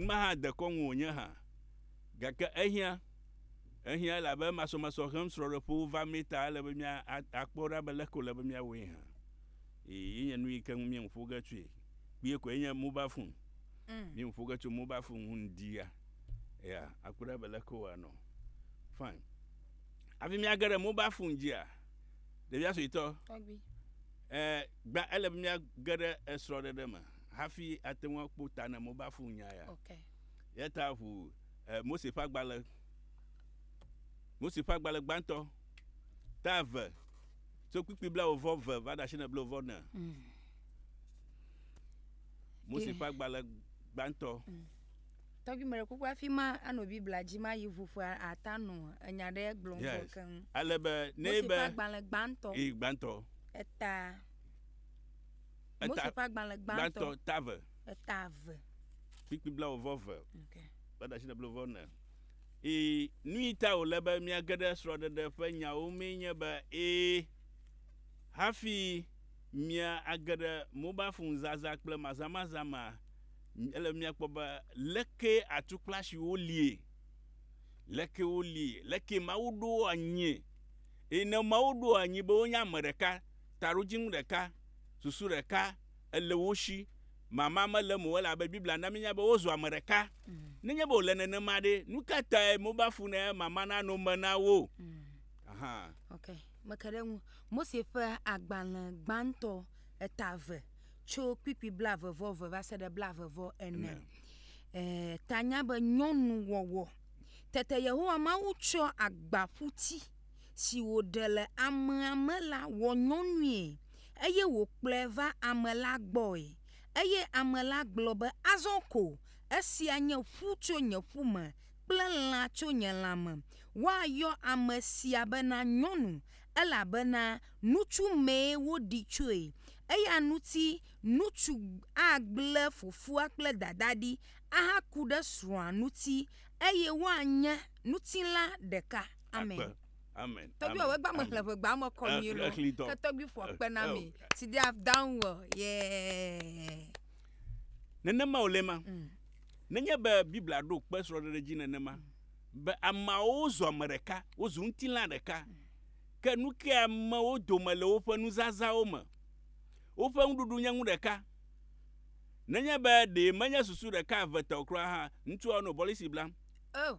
Ŋma hã dekɔ ŋu wònye hã. Gake ehiã, ehiã elabe masɔmasɔ hem srɔ̃ɖeƒewo va mee ta ele be mía a, akpɔ ɖa be leke wòle be míawɔe hã. Ee, yenye nu yi ke ŋu míeŋu ƒo ge tsoe kpuie koe nye mobal fon. Míeŋu ƒo ge tso mobal fon ŋu ŋdi ya. Eya, akpɔ ɖa be leke wòanɔ. Fine. Hafi míage ɖe mobal fon dzia, ɖevia suetɔ, Tɔgbui. ɛɛ, gbã ele be míage ɖe esrɔ̃ɖeɖe me. hafi ate ŋu akpɔ ta na Mobafu nya ya. Okay. Yata ʋu eh, Mose ƒe agbalẽ Mose ƒe agbalẽ gbãtɔ ta eve tso kpikpi blawovɔ ve va ɖe asine blawovɔ ne. Mm. Mose ƒe agbalẽ gbãtɔ. Mm. Tɔgbi mele kuku afi ma anɔ Biblia dzi ma yi ʋu ƒe ata nɔ enya ɖe gblɔm yes. vɔ keŋ. Ale be ne be. Mose ƒe agbalẽ gbãtɔ. Ee gbãtɔ. Eta. Mose ƒe agbalẽ gbãtɔ. Ta eve. Eta eve. Kpikpi blawo-vɔ ve. Ok. Kple ɖasi ɖe blo-vɔ ne. Ii, Nui ta wòle be míage ɖe srɔ̃ɖeɖe ƒe nyawo mee nye be ee, hafi mía age ɖe mobal fon zazã kple mazamazã mea, ele be míakpɔ be leke atukplasiwo lie, leke wolie, leke Mawu ɖo wo anyie, eye ne Mawu ɖo wo anyi be wonye ame ɖeka, Taɖodzinu ɖeka, susu ɖeka, ele wo shi. Mama mele eme o, elabe Biblia na míenya be wozu ame ɖeka. Nenye be wòle nenema ɖe, nu ka tae mobaa fu ne mama nano me na wo? Aha. Ok, meke ɖe eŋu. Mose ƒe agbalẽ gbãtɔ eta eve, tso kpikpi blaeve vɔ eve va se ɖe blaeve vɔ ene. Ee, tanya be nyɔnuwɔwɔ. Tete Yehowa Mawu tsɔ agbaƒuti. si wòɖe le amea me la wɔ nyɔnui, eye wòkplɔe va ame la gbɔe. Eye ame la gblɔ be, Azɔ ko, esia nye ƒu tso nye ƒu me kple lã tso nye lãme. Woayɔ ame sia bena nyɔnu, elabena nutsu mee woɖi tsoe. Eya ŋuti nutsu agblẽ fofoa kple dadaa ɖi ahaku ɖe srɔ̃a ŋuti, eye woanye ŋutilã ɖeka. Amen. Akpe. Amen. Tɔgbi Amen. ɔwɔ egba me Amen. xlẽ ʋegba me kɔ mi Exlẽ- exlẽ dɔ. lɔ. Ke tɔgbi ƒo akpe na Eo. mi. Si they have done well. Yeah. Nenema wòle ma. Mm. Nenye be Biblia ɖo kpe srɔ̃ɖeɖe dzi nenema be ameawo zu ame ɖeka, wozu ŋutilã ɖeka, ke nu kae amewo dome le woƒe nuzazãwo me? Woƒe ŋuɖuɖu nye nu ɖeka. Nenye be ɖee menye susu ɖeka eve te o kura hã, ŋutsua nɔ bɔlisi blam. Oh.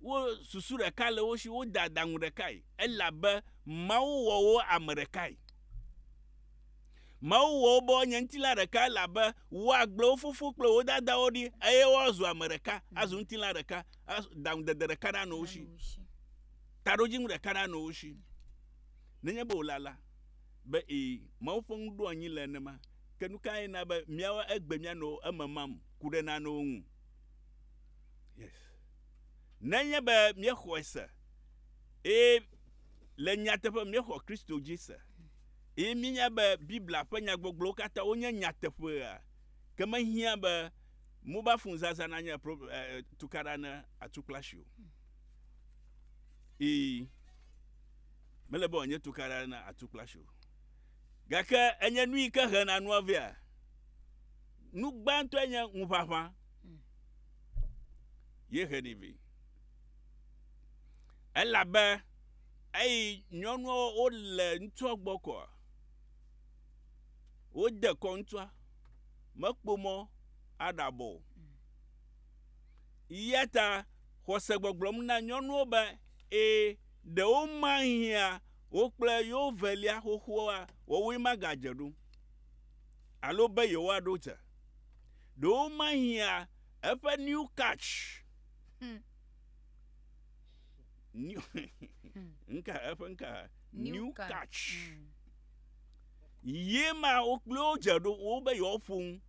wo susu ɖeka le wo si, wode adaŋu ɖekae, elabe Mawu wɔ wo ame ɖekae. Mawu wɔ wo be woanye ŋutilã ɖeka, elabe woagblẽ wo fofo kple wo dadawo ɖi, eye woazu ame ɖeka, azu ŋutilã ɖeka, as- daŋudede ɖeka nanɔ wo si, taɖodzinu ɖeka nanɔ wo si. Nenye be wòle alea, be ee, Mawu ƒe nuɖoanyi le nenema, ke nu kae na be míawo egbe míanɔ eme mam ku ɖe nanewo ŋu? Yes. Nenye be míexɔe se, eye le nyateƒe míexɔ Kristo dzi se, eye míenya be Biblia ƒe nyagbɔgblɔwo katã wonye nyateƒea, ke mehiã be mobile phone zazã nanye eh, tukaɖa ne atu kple asi o. Ii, mele be wòanye tukaɖa ne atu kple asi o. Gake enye nu yi ke hena nua vea. Nu gbãtɔe nye ŋuʋaʋã ye heni vɛ. Elabe eyi nyɔnua wole ŋutsua gbɔ kɔa, wode kɔ ŋutsua, mekpɔ mɔ aɖabɔ o. Eya ta xɔse gbɔgblɔm na nyɔnuwo be, ee, ɖewo mahiã wo kple yewo velia xoxoa, woawoe magadze ɖom. alo be yewoaɖo te. Ɖe womahiã eƒe New Catch, hmm. New, hmm. nka, eƒe nka, New, New Catch. catch. Hmm. Ye ma wo kple wo dze ɖo wo be yewoaƒo ŋu.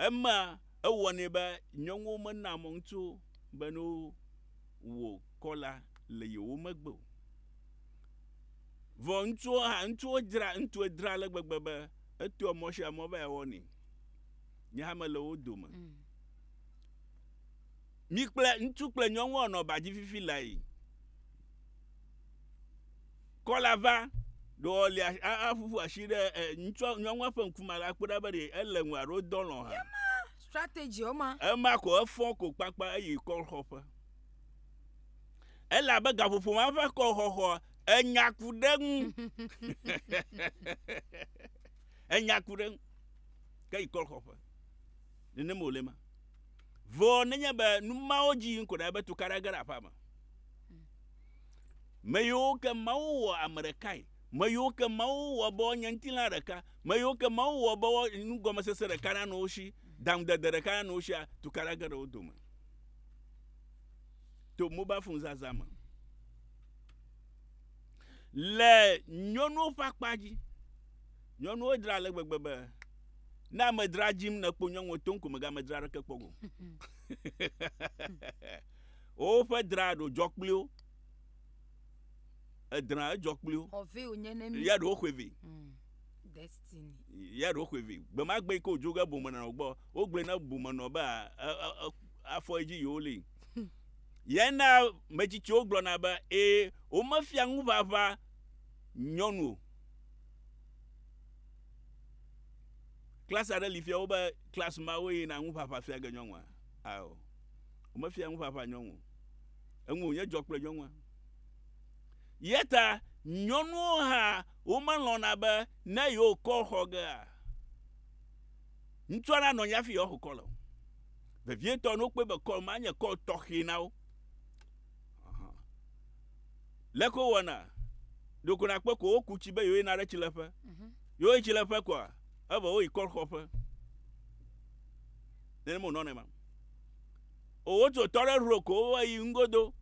Ema ewɔnɛ be nyɔnuwo mena mɔ ŋutsu be ne wò kɔla le yewo megbe o. Vɔ ŋutsuwo hã, ŋutsuwo dzra, ŋutsue dzra ale gbegbe be etoa mɔ sia mɔ be yeawɔ nɛ. Nye hã mele wo dome. Mi kple ŋutsu kple nyɔnu anɔ ba dzi fifi lae. Kɔla va ɖewo le aƒuƒu asi ɖe eh, ŋutsua nyɔnua ƒe ŋkume ala kpɔ ɖa be ɖe ele ŋu alo dɔ lɔ hã. Yema strategy woma. Ema ko efɔ ko kpakpa eyi kɔlxɔƒe. Ele abe gaƒoƒo ma ƒe kɔlxɔxɔ enya ku ɖe ŋu enya ku ɖe ŋu ke yi kɔlxɔƒe nenem wòle ma vɔ nenye be numawo dzi yim ko ɖe ebe tukaɖa ge ɖe aƒea me me yiwo ke mawu wɔ ame ɖekae me yiwo ke mawu wɔ be wonye ŋutilã ɖeka me yiwo ke mawu wɔ be nugɔmesese ɖeka nanɔ wo si daŋudede ɖeka nanɔ wo sia tukaɖa ge ɖe wo dome to mobile phone zazã me Le nyɔnuwo ƒe akpa dzi, nyɔnuwo dzra ale gbegbe be ne amedzra dzim nèkpɔ nyɔnuwo to ŋku megamedzra aɖeke kpɔ go. Woƒe dra ɖo dzɔ kpli wo. Edra edzɔ kpli wo. Xɔvɛ wònye ne mi. Ya ɖewo xɔe vɛ. Mm, Destiny. Ya ɖewo xɔe vɛ. Gbemagbe yi ke wòdzo ge bomenɔ gbɔ, wogblɔe na bomenɔ be a- a- a- afɔ edzi yewo li. Yae na metsitsiwo gblɔna be, ee, womefia ŋuʋaʋã nyɔnu o. Klas aɖe li fia wobe klas ma woyina ŋuʋaʋã fia ge nyɔnua. Ao, womefia ŋuʋaʋã nyɔnu o. Eŋu wònye dzɔ kple nyɔnua. Yɛ ta nyɔnuwo hã womelɔ̃na be ne yewokɔ xɔ gea, ŋutsua nanɔ anyi hafi yewoaxo kɔ le o. vevietɔ ne wokpɔe be kɔl ma nye kɔl tɔxɛ na wo. Leke wowɔna? Ɖeko nakpɔe ko woku tsi be yewoyina ɖe tsileƒe. Mhm. Yewoyi tsileƒe koa, evɔ woyi kɔl xɔƒe. Nenema wònɔ nɛ ma. O wotu tɔ ɖe ro ko woyi nugodo.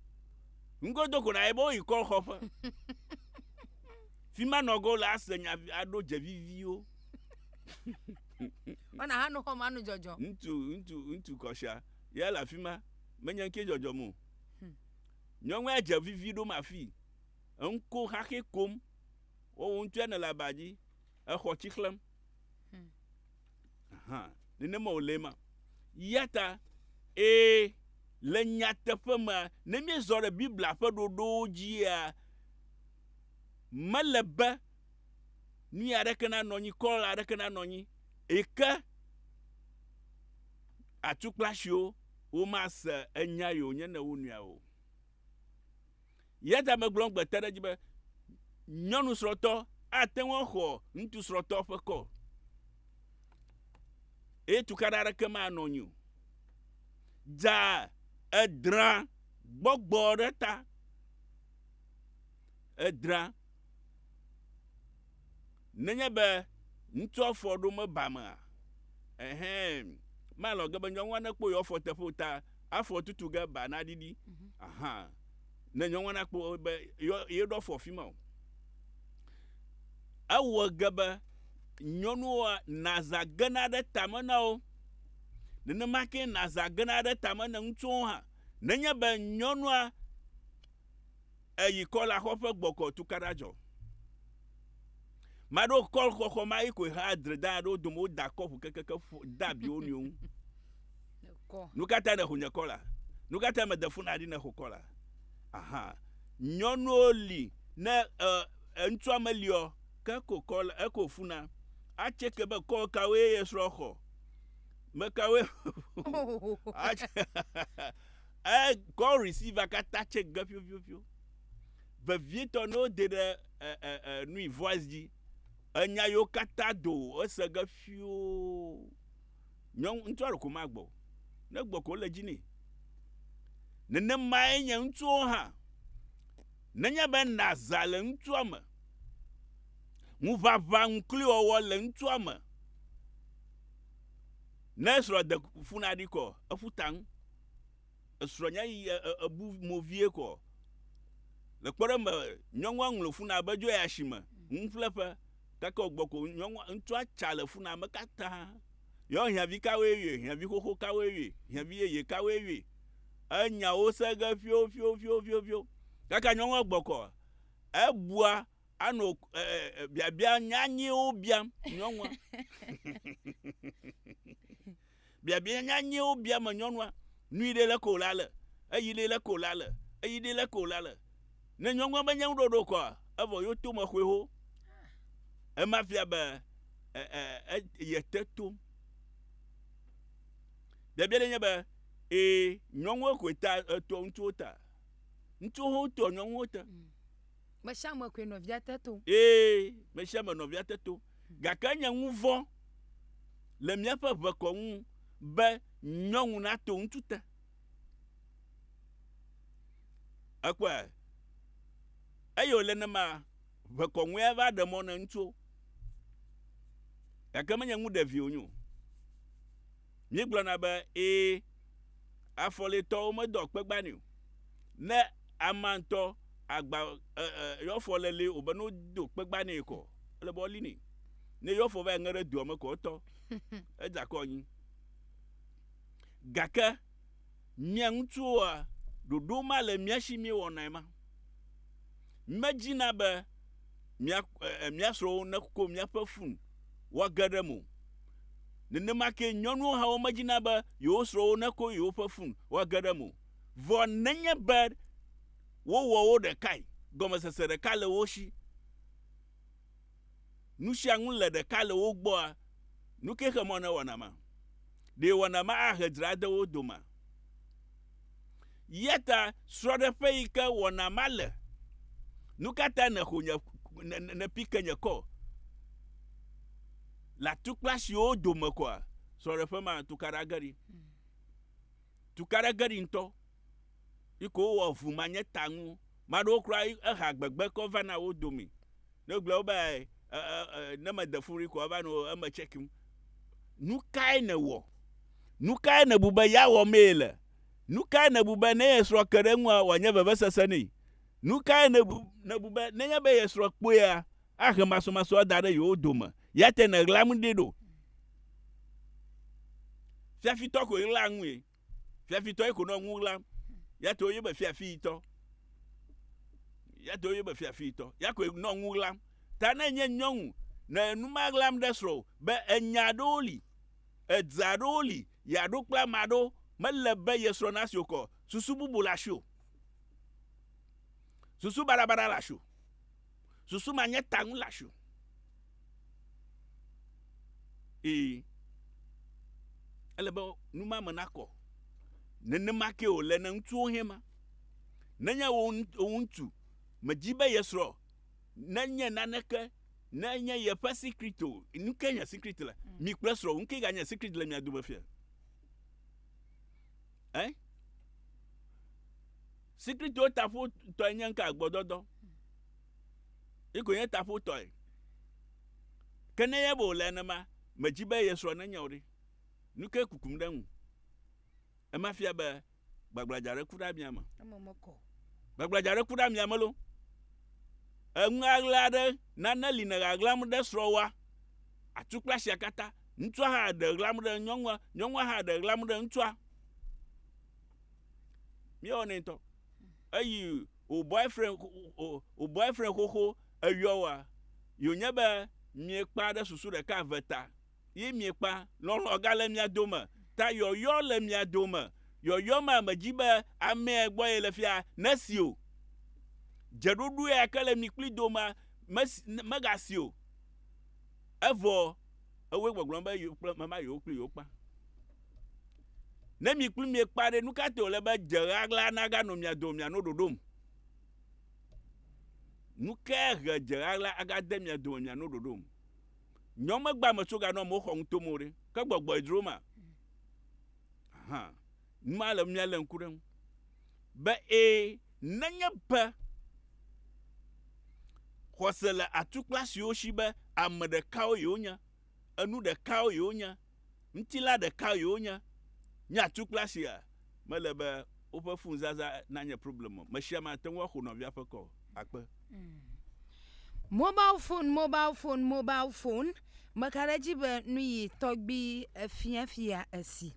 Nugodo ko naye be woyi kɔl xɔƒe. Fi ma nɔgɔ le ase nya aɖo dze viviwo. Wana ha no xɔm anu dzɔdzɔ. Ŋutsu ŋutsu ŋutsu kɔsha ya le afi ma menye ŋkee dzɔdzɔm o. Hmm. Nyɔnua dze vivi ɖom afii. Eŋko xaxɛ kom. Wowo ŋutsua ne le aba dzi exɔ tsi xlẽm. Hmm. Aha, nenema wòle ma. Ya ta, ee, le nyateƒe me, ne míezɔ ɖe Biblia ƒe ɖoɖowo dzia, mele be Nui aɖeke nanɔ anyi, kɔla aɖeke nanɔ anyi yi ke atukplasiwo womase enya yi wònye ne wonuia o. Eya ta megblɔ egbe te ɖe edzi be nyɔnu srɔ̃tɔ ate ŋu axɔ ŋutsu srɔ̃tɔ ƒe kɔ eye tukaɖa aɖeke manɔ anyi o. Dza edrã gbɔgbɔ ɖe ta. Èdra. Nenye be ŋutsua fɔ ɖo meba mea, ɛhɛ, malɔ ge be nyɔnua nekpɔ yewo afɔ teƒe o ta afɔ tutu ge ba naɖiɖi. Mhm. Aha. Ne nyɔnua nakpɔ be yeɖo afɔ afi ma o. Ewɔ ge be nyɔnua nazã gena ɖe tame na wo. Nenema ke nazã gena ɖe tame na ŋutsuwo hã. Nenye be nyɔnua eyi kɔl axɔ ƒe gbɔkɔ tukaɖa dzɔ. Ma ɖo kɔl xɔxɔ ma yi koe ha dre da ɖo dome woda kɔ ƒu kekeke da abi wo nɔewo ŋu. Nu ka ta nèxo nye kɔla? Nu ka ta mede funa ɖi nèxo kɔla? Aha, nyɔnuwo li ne ŋutsua meliɔ ke ko kɔl eko funa. Atse ke be kɔl kawoe ye srɔ̃ xɔ? Mekawoe? E call receiver katã tse ge ƒioƒioƒio. Vevietɔ ne wode ɖe e e e nui voice dzi, enya yewo katã do o, ese ge ƒioo. Nyɔnu ŋutsua ɖeko magbɔ o. Ne egbɔ ko wole dzi nɛ. Nenemae nye ŋutsuwo hã. Nenye be naza le ŋutsua me, ŋuʋaʋã ŋukliwɔwɔ le ŋutsua me, ne srɔ̃ de fu na ɖi kɔ, eƒu ta ŋu. esrɔ̃nye yi ebu mo vie kɔ. Le kpɔɖeŋu me, nyɔnua ŋlɔ funaa be dzoe asime, nuƒleƒe, gake wògbɔ ko nyɔnua, ŋutsua tsa le funaa me katã. Yɔ hiãvi kawoe yɔe, hiãvi xoxo kawoe yɔe, hiãvi yeye kawoe yɔe, enya wo se ge ƒioƒioƒioƒioƒio. Gake nyɔnua gbɔ kɔ, ebua anɔ biabia nyanyɛwo biam nyɔnua. Biabia nyanyɛwo bia me nyɔnua, Nui ɖe le ko la le? Eyi ɖe le ko la le? Eyi ɖe le ko la le? Ne nyɔnua menye ŋuɖoɖo kɔa, evɔ yo tome xoe ho. Ema fia be e, e, e, yete tom. Biabia ɖe nye be, ee, nyɔnuwo koe ta etɔ ŋutsuwo ta. Ŋutsuwo ho toa nyɔnuwo ta. Mm. Mesiame koe nɔvia te to. Ee, mesiame nɔvia te to. Gake enye ŋuvɔ le míaƒe ʋekɔ ŋu be nyɔnu nato ŋutsu te. Ekpɔe. Eye wòle nema ʋekɔ ŋue ava ɖe mɔ ne ŋutsuwo. Gake menye ŋu ɖevi wonyo. Míegblɔna be, Ẽ, afɔletɔwo medɔ kpegbanɛ o. Ne amea ŋutɔ agba e, e, eƒe afɔ le li o be ne wodo kpegbanɛ kɔ, ele be woali nɛ. Ne eƒe afɔ va yi ŋe ɖe dua me kɔ, etɔ, edzakɔ anyi. Gake Mía ŋutsuwoa, ɖoɖo ma le mía si míewɔnae ma. Mímedzina be mía, e, mía srɔ̃wo neko míaƒe fun woage ɖe eme o. Nenema kee nyɔnuwo hã womedzina be yewo srɔ̃wo neko yewoƒe fun woage ɖe eme o. Vɔ nenye be wowɔ wo ɖekae, gɔmesese ɖeka le wo si. Nu sia ŋu le ɖeka le wo gbɔa? Nu ke xe mɔ na wɔna ma? Ɖe wɔna ma ahe dzra ade wo domea? Eya ta srɔ̃ɖeƒe yi ke wɔna ma le. Nu ka ta nèxo nye nèpi ke nye kɔ le atukpla siwo dome kɔa? Srɔ̃ɖeƒe ma tukaɖa ge ɖi. Tukaɖa ge ɖi ŋutɔ. Yike wowɔ ʋu manye ta ŋu. Maɖewo kura eha gbegbe ke wova na wo domi. Ne gblɔe wo be e, e, e, e, ne mede fu ri koa va no eme tsekim. Nukae nèwɔ? Nukae nèbu be ya wɔ mee le? Nukae nèbu be ne ye srɔ̃ ke ɖe eŋua wòanye vevesese nɛ? Nukae nèbu, nèbu be nenye be ye srɔ̃ kpɔea, ahe masɔmasɔ da ɖe yewo dome? Yate nèɣlam ɖi ɖo. Fiafitɔ koe ɣlaa ŋui. Fiafitɔe ko nɔ ŋu ɣlam. Ya to yebe fiafitɔ. Ya to yebe fiafitɔ. Ya koe nɔ ŋu ɣlam. Ta ne nye nyɔnu nɔ enu ma ɣlam ɖe srɔ̃ be enya aɖewo li, edze aɖewo li yeaɖo kple ame aɖewo, mele be ye srɔ̃ nasi wokɔ o. Susu bubu le asiwò. Susu baɖabaɖa le asiwò. Susu ma nye ta ŋu le asi o. Ee, ele be nu ma me nakɔ. Nenema ke wòle ne ŋutsuwo hẽ ma. Nenye wò ŋutsu medzi be ye srɔ̃ nenye naneke, nenye yeƒe sikrit o, nu kae nye sikrit le? Mm. Mi kple srɔ̃wò, nu kae ganye sikrit le mia dome fia? Eh? Si Kristo taƒo tɔe nye ŋka gbɔdɔdɔ. Iko nye taƒo tɔe. Ke ne ye bo le enema, medzi be ye srɔ̃ nenye o ɖe. Nu ke kukum ɖe ŋu. Ema fia be gbagbladza ɖe ku ɖe amia me. Eme mekɔ. Gbagbladza ɖe ku ɖe amia me lo. Eŋu aɣla ɖe nane li ne ɣaɣlam ɖe srɔ̃wa. Atukpla sia katã. Ŋutsua hã ɖe ɣlam ɖe nyɔnua, nyɔnua hã ɖe ɣlam ɖe ŋutsua. míewɔ nɛ ŋutɔ eyi o boyfriend o o boyfriend xoxo eyɔ wa yonye be miekpa ɖe susu ɖeka eve ta yi miekpa lɔlɔ ga le mia dome ta yɔyɔ le mia dome yɔyɔ ma me dzi be amɛ gbɔ ye le fia nesi o dzeɖoɖo ya ke le mi kpli dome mesi mega si o evɔ Ewoe gbɔgblɔ be yewo kple meva yewo kple yewo kpa. Ne mi kple mie kpa ɖe, nu ka te wòle be dze ɣaɣla naganɔ mia dome miano ɖoɖom? Nu kae he dze ɣaɣla agade mia dome miano ɖoɖom? Nyɔ megba me tso ganɔ amewo xɔ ŋuto me o ɖe, ke gbɔgbɔe dzro ma. Ahan. Nu ma ele be míalé ŋku ɖe eŋu be ẽ, nenye be xɔse le atukpla siwo si be ame ɖekawo ye wonye, enu ɖekawo ye wonye, ŋutilã ɖeka ye wonye, nye atukpla sia, mele be woƒe funuzaza nanye problem o. Mesiame ate ŋu axo nɔvia ƒe kɔ akpe. Mobal fon mobal fon mobal fon meka ɖe edzi be nuyi tɔgbi efiafia esi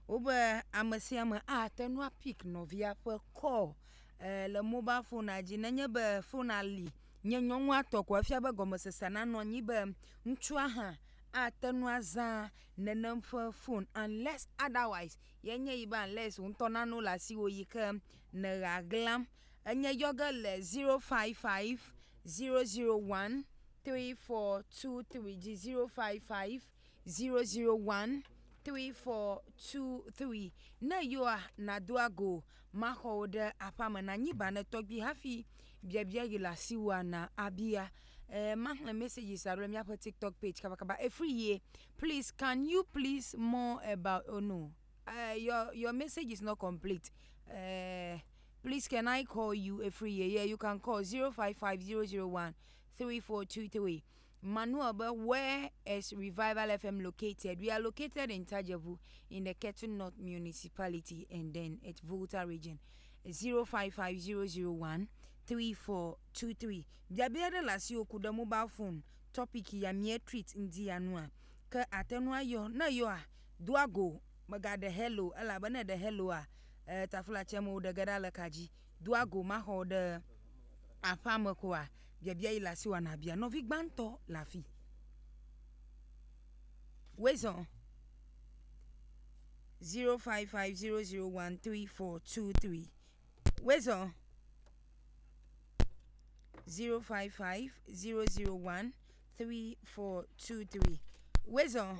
Wobe ame sia ame ate ŋu apik nɔvia ƒe kɔl ee le mobal fonua dzi nenye be fonua li nye nyɔnua tɔ ko efia be gɔmesese nanɔ anyi be ŋutsua hã ate ŋu azã nenem ƒe fon unless otherwise ye nye yi be unless wò ŋutɔ nane wole asiwò yi ke nèɣea glam. Enye yɔ ge le zero five five zero zero one three four two three dzi zero five five zero zero one three four two three ne yewoa nado ago maxɔwo ɖe aƒea me na nyi banɛ tɔgbi hafi biabia yi le asiwòa na abia e maxlẽ messages alo míaƒe tiktok page kabakaba efri ye please can you please more about oh no uh, your your message is not complete uh, please can i call you efri ye yeah you can call zero five five zero zero one three four two three Manuel be, Where is Revival FM located? We are located in Tajevu in the Ketu North Municipality and then at Volta region. 055001 3423. Biabia ɖe le asiwò ku ɖe mobile phone topic ya mía treat ŋdi ya nua. Ke àte ŋu ayɔ. Ne èyɔa, doa go, mègaɖe hello elabe ne èɖe helloa, eh, taflatsɛmewo ɖe ge ɖa le ka dzi. Doa go maxɔ ɖe aƒea me koa? Biabia yi le asi wana bia nɔvi gbãtɔ le afi. Wezɔ 0550013423 Wezɔ 0550013423 Wezɔ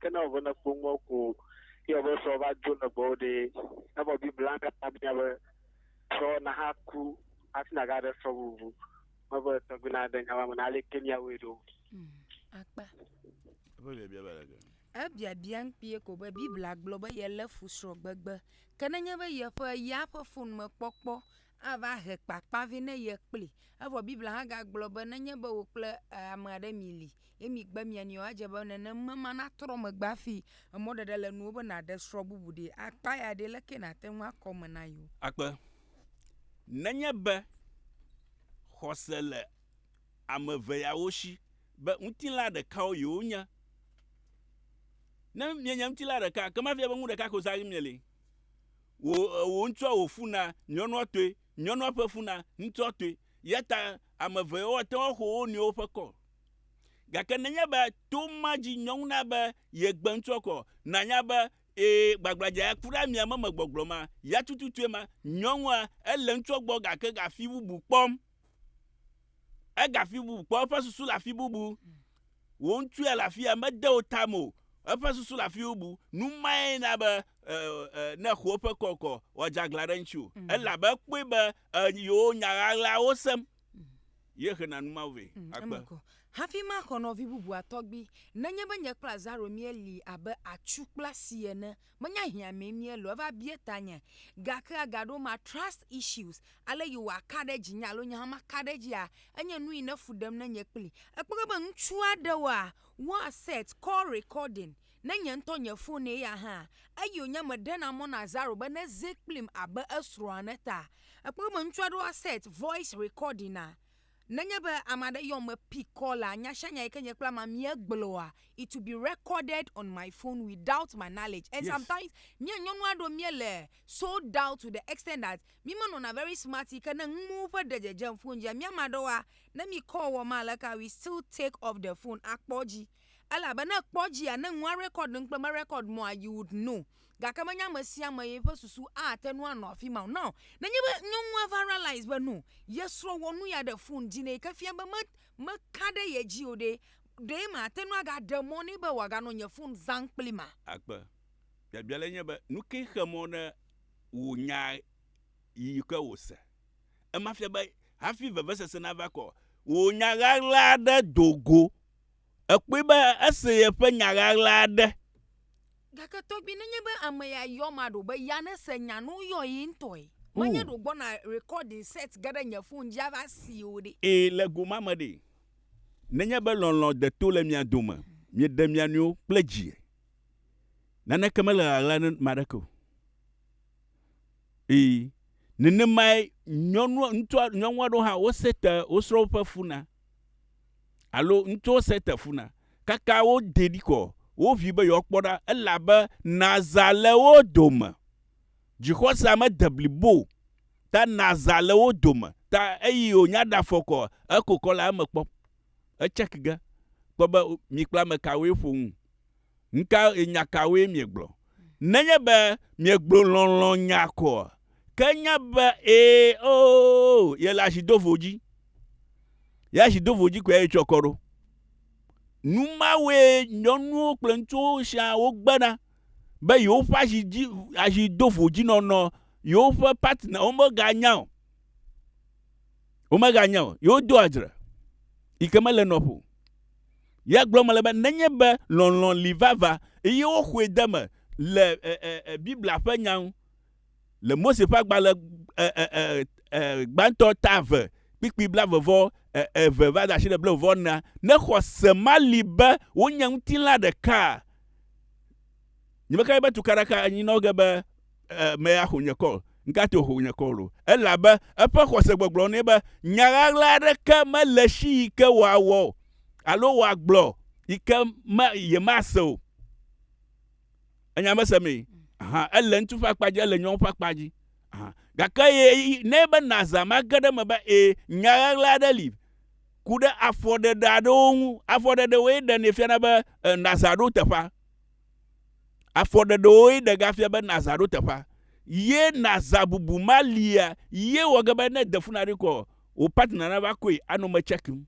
Ke ne wòve ne kpɔ ŋuɔ ko ye be srɔ̃ va dzo le gbɔwò ɖe, evɔ Biblia katã bia be srɔ̃ naha ku hafi nàga ɖe srɔ̃ bubu me be tɔgbi na ɖe nya ma me na aleke miawɔe ɖo. Mm, akpa. Eƒe biabia va ɖe ke. Ebiabia ŋkpie ko be Biblia gblɔ be yelé fu srɔ̃gbegbe. Ke nenye be yeƒe ya ƒe fon me kpɔkpɔ ava he kpakpa vɛ ne ye kpli. Evɔ Biblia hã gagblɔ be nenye be wò kple ame aɖe mili ye migbe mia nɔewo adze be nenem be matrɔ megbe hafi emɔɖeɖe le nuwò be nàɖe srɔ̃ bubu ɖi. Akpa ya ɖi leke nàte ŋu akɔ eme na yewo? Akpe, Nenye be xɔse le ame eve yawo si be ŋutilã ɖekawo yewonye. Ne mienye ŋutilã ɖeka, ekema efia be nu ɖeka koe zã hafi mieli. Wò, wò ŋutsua wò fu na nyɔnua tɔe, nyɔnua ƒe fu na ŋutsua tɔe. Eya ta ame eve yawo ate ŋu axɔ wo nɔewo ƒe kɔ. Gake nenye be to ma dzi nyɔnu na be yegbe ŋutsua kɔ, nànya be ee, gbagbladza ya ku ɖe amia me me gbɔgblɔ ma, ya tututue ma, nyɔnua, ele ŋutsua gbɔ gake gafi bubu kpɔm. Ega afi bubu kpɔ, eƒe susu le afi bubu. Wò ŋutsu ya le afi ya, mede wò ta me o. Eƒe susu le afi bubu. Nu mae na be ne xo eƒe kɔkɔ, wòadze aglã ɖe ŋuti o. Mm. Elabe ekpɔe be yewo nya ɣaɣlawo sem. Mm. Ye hena nu mawo vɛ. Mm, Akpe. Hafi maxɔ nɔvi bubua tɔgbi, nenye be nye kple Azaro míeli abe atsu kple asi ene Menye hiã mee míele o, eva bia tanye, gake agaɖo ema, trust issues, ale yi wòaka ɖe dzinye alo nye hã maka ɖe edzia, enye nu yi ne fu ɖem nenye kpli. Ekpɔ ge be ŋutsu aɖewoa, woa set call recording ne nye ŋutɔ nye fon eya hã, eyi wònye meɖena mɔ na Zaro be neze kplim abe esrɔ̃a ene ta. Ekpɔ be ŋutsu aɖewoa set voice recording a, Nenye be ame aɖe yɔm me pikɔ la, nyasianya yi ke nye kple amea míegblɔa, it will be recorded on my phone without my knowledge and yes. sometimes mía nyɔnu aɖewo míele sold out to the extent that mímenɔna very smart yi ke ne nuwo ƒe ɖe dzedzem phone dzia, mía ame aɖewoa, ne mi call wɔm aleka we still take off the phone akpɔ edzi. Elabe ne ekpɔ edzia, ne nua record nu kple merecord mua, you would know. gake menye ame sia ame ye ƒe susu ate ŋu anɔ afi ma o. Now, nenye be nyɔnua va realize be no, ye srɔ̃ wɔ nu ya ɖe fon dzi nɛ yi ke fia be me, meka ɖe ye dzi o ɖe, ɖe mate ŋu agaɖe mɔ nɛ be wòaganɔ nye fon zãm kplimea? Akpe. Biabia lae nye be, nu kae xe mɔ ne wò nya yi ke wòse? Ema fia be hafi vevesese nava kɔ wò nya ɣaɣla aɖe do go. Èkpɔe be ese yeƒe nya ɣaɣla aɖe. Gake tɔgbi nenye be ame ya yɔ ma ɖo be ya ne se nya no yɔ yi ŋtɔe. Ma nye ɖo gbɔ na recording set ge ɖe nye phone dzi ava si o ɖe. E, le go ma me ɖe, nenye be lɔlɔ de to le mia dome, mi ɖe mia nɔewo kple dzi, naneke mele ɣaɣla ne ame aɖeke o. Ii, nenemae nyɔnua, ŋutsua, nyɔnua ɖewo hã wose te wo srɔ̃wo ƒe funa. Alo ŋutsuwo se te funa. Kaka wodee ɖi kɔ, woʋui be yewoakpɔ ɖa elabe nazã le wo dome. Dzixɔsea mede blibo o ta nazã le wo dome ta eyi wònya ɖe afɔkɔ ekokɔ le eme kpɔ. Etsɛk ge kpɔ be mi kple ame kawoe ƒo nu. Nu ka e, nya kawoe miegblɔ? Nenye be miegblɔ lɔlɔ̃ nya koa, ke nya be ee, oo, yele asi do vo dzi. Ye asi do vo dzi koe ye tsɔ kɔ ɖo. Nu mawoe nyɔnuwo kple ŋutsuwo sia wogbena be yewoƒe asi dzi asi do vo dzi nɔnɔ yewoƒe partner womeganya o. Womeganya o. Yewodo adzre yi ke mele nɔƒe o. Ya gblɔm mele be nenye be lɔlɔ̃ li vavã eye woxɔe de eme le Biblia ƒe nya ŋu le Mose ƒe agbalẽ gbãtɔ ta eve kpikpi blaeve-vɔ eve va de asi le blaeve-vɔ enea, ne xɔse mali be wonye ŋutilã ɖekaa, Nye meka be tukaɖaka anyinɔ ge be ame axo nye kɔl. Ŋkate wòxo nye kɔl o. Elabe eƒe xɔse gbɔgblɔ nɛ be nya ɣaɣla aɖeke mele esi yi ke wòawɔ alo wòagblɔ yi ke me yemase o. Enya mese mee. Aha, ele ŋutsu ƒe akpa dzi, ele nyɔnu ƒe akpa dzi. Aha. Gake ye nɛ be nàzã mage ɖe eme be ẽ, nya ɣaɣla aɖe li. Ku ɖe afɔɖeɖe aɖewo ŋu. Afɔɖeɖewoe ɖenɛ fiana be ẽ, nàzã ɖo teƒea. Afɔɖeɖewoe ɖegafia be nàzã ɖo teƒea, ye nàzã bubu malia ye wɔ ge be ne de fu na ɖi kɔ wò partner nava kɔe anɔ me tsɛkim.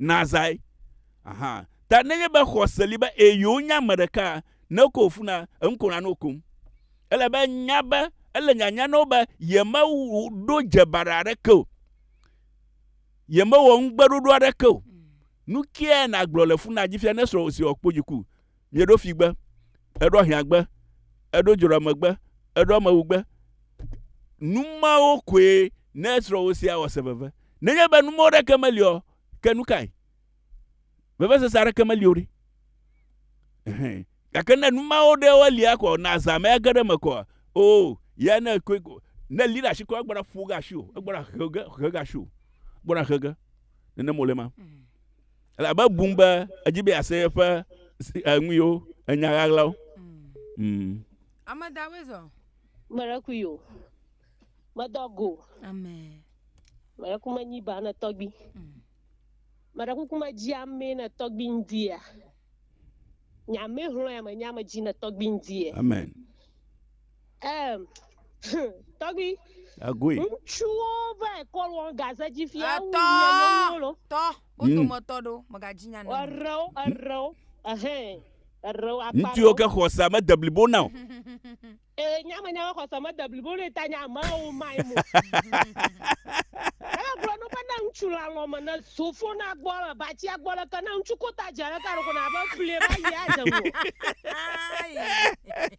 Nàzãe. Aha. Ta nenye be xɔse li be ee yewonya ame ɖeka ne kɔ wò funa, enu ko nànɔ kom. Ele be nya be ele nyanya na wo be yemeɖo dze baɖa aɖeke o. Yemewɔ ŋugbeɖoɖo aɖeke o. Nukae nàgblɔ le funadzi fia ne srɔ̃wò si wɔ kpodziku? Mieɖo figbe, eɖo ahiãgbe, eɖo dzroamegbe, eɖo amewugbe. Nu mawo koe ne srɔ̃wò sia wɔ se veve. Nenye be nu mawo ɖeke meli o, ke nu kae? Vevesese aɖeke meli o ɖe. Gake ne nu mawo ɖewo lia ko na zã me age ɖe eme ko, oh, ya ne koe ko, ne li ɖe asi ko egbɔna ƒo ge asiwò, egbɔna he ge, he ge asiwò, egbɔna he ge. Nenem wòle ma. Elabe ebum be edzi be ase eƒe enuiwo, enya ɣaɣlawo. Mm. Ame dawoe zɔ. Meɖeku yo. Medɔ go. Amen. Meɖeku menyi ba ne tɔgbi. Mm. Meɖeku kuma dzi ame ne tɔgbi ndia. Nyame hlɔe ame nyame dzi ne tɔgbi ndie. Amen. Ɛm, hum, tɔgbi. Egoe. Ŋutsuwo va ekɔ lɔ gaze dzi fia wu Etɔ, mia nyɔnuwo lɔ. tɔ, wo Mm. dometɔ ɖewo mègadzi nya na o. Erewo, erewo, ehɛn, erewo akpa Ŋutsuwo ɖewo. ke xɔsea mede blibo na o. Ee, nye amenye be xɔse mede blibo nɛ ta nye amewo mae mo. Ela gblɔ nu be ne ŋutsu le alɔ̃ me ne zo fo na gbɔ le batsia gbɔ leke ne ŋutsu ko ta dzi aleke aɖo ko na be ƒlie va yi adze ŋu o. Ayi.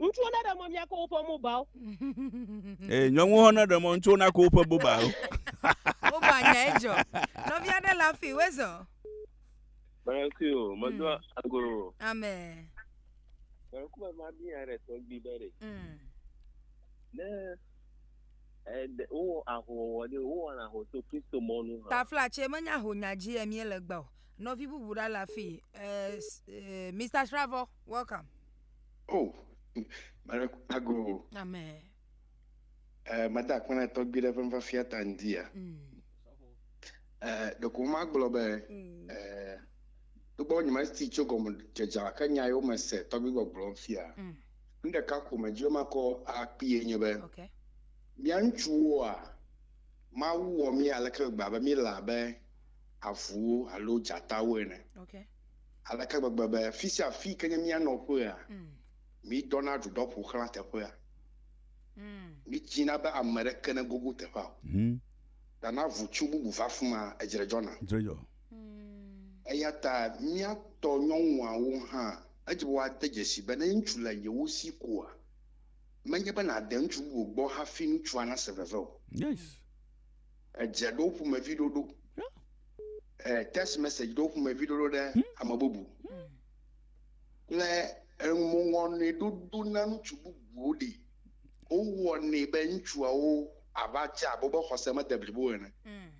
Ŋutsuwo naɖe mɔ miako woƒe mobawo. Ee, nyɔnuwo hã naɖe mɔ ŋutsuwo nako woƒe bobawo. Woba nya edzɔ. Nɔvi aɖe le afi wezɔ. Mɛrɛki o, medo mm. ago. Amen. Mɛrɛki bɛ ma bi ya ɖe tɔgbi bɛ ɖe. Mm. Ne ɛdɛ eh, wowɔ ahowɔwɔ ɖe wowɔ na ho to Kristo mɔnu hã. Tafla tse menya ho nya dzi yɛ mie le gbɔ. Nɔvi bubu ɖa le afi. Eh, eh, Mr. Shravɔ, welcome. Oh, mare ago. Amen. Eh, mada akpɔ na tɔgbi ɖe ƒe nufiafia ta ŋdi ya. Mm. Eh, ɖeko magblɔ be mm. eh, togbɔ nyema ti tso gɔme dzedze ke nya yewo me se tɔgbi gbɔgblɔ fia. Mm. Nu ɖeka ko me dzro makɔ akpie nye be. Okay. Mia ŋutsuwoa mawu wɔ mi aleke gba be mi la be avuwo alo dzatawo ene. Okay. Aleke gbegbe be fi sia afi yi ke nye mía nɔƒea, mídɔna ɖuɖɔ ƒo xlã teƒea. Mídzina be ame aɖeke negogo teƒea o. Ta na ʋutsu bubu va afi ma, edzre dzɔna. Eya ta mía tɔ nyɔnuawo hã, edze be woade dzesii be ne ŋutsu le yewo si koa, menye be nàde ŋutsu bubu gbɔ hafi ŋutsua nase veve o. Edze ɖo ƒomevi ɖoɖo. Text message ɖo ƒomevi ɖoɖo ɖe hmm. ame bubu. Hmm. Kple eŋuwɔnɛ ɖoɖo na ŋutsu bubuwo ɖi. Wowɔnɛ be ŋutsuawo ava dze abe wobe xɔse mede blibo ene. Hmm.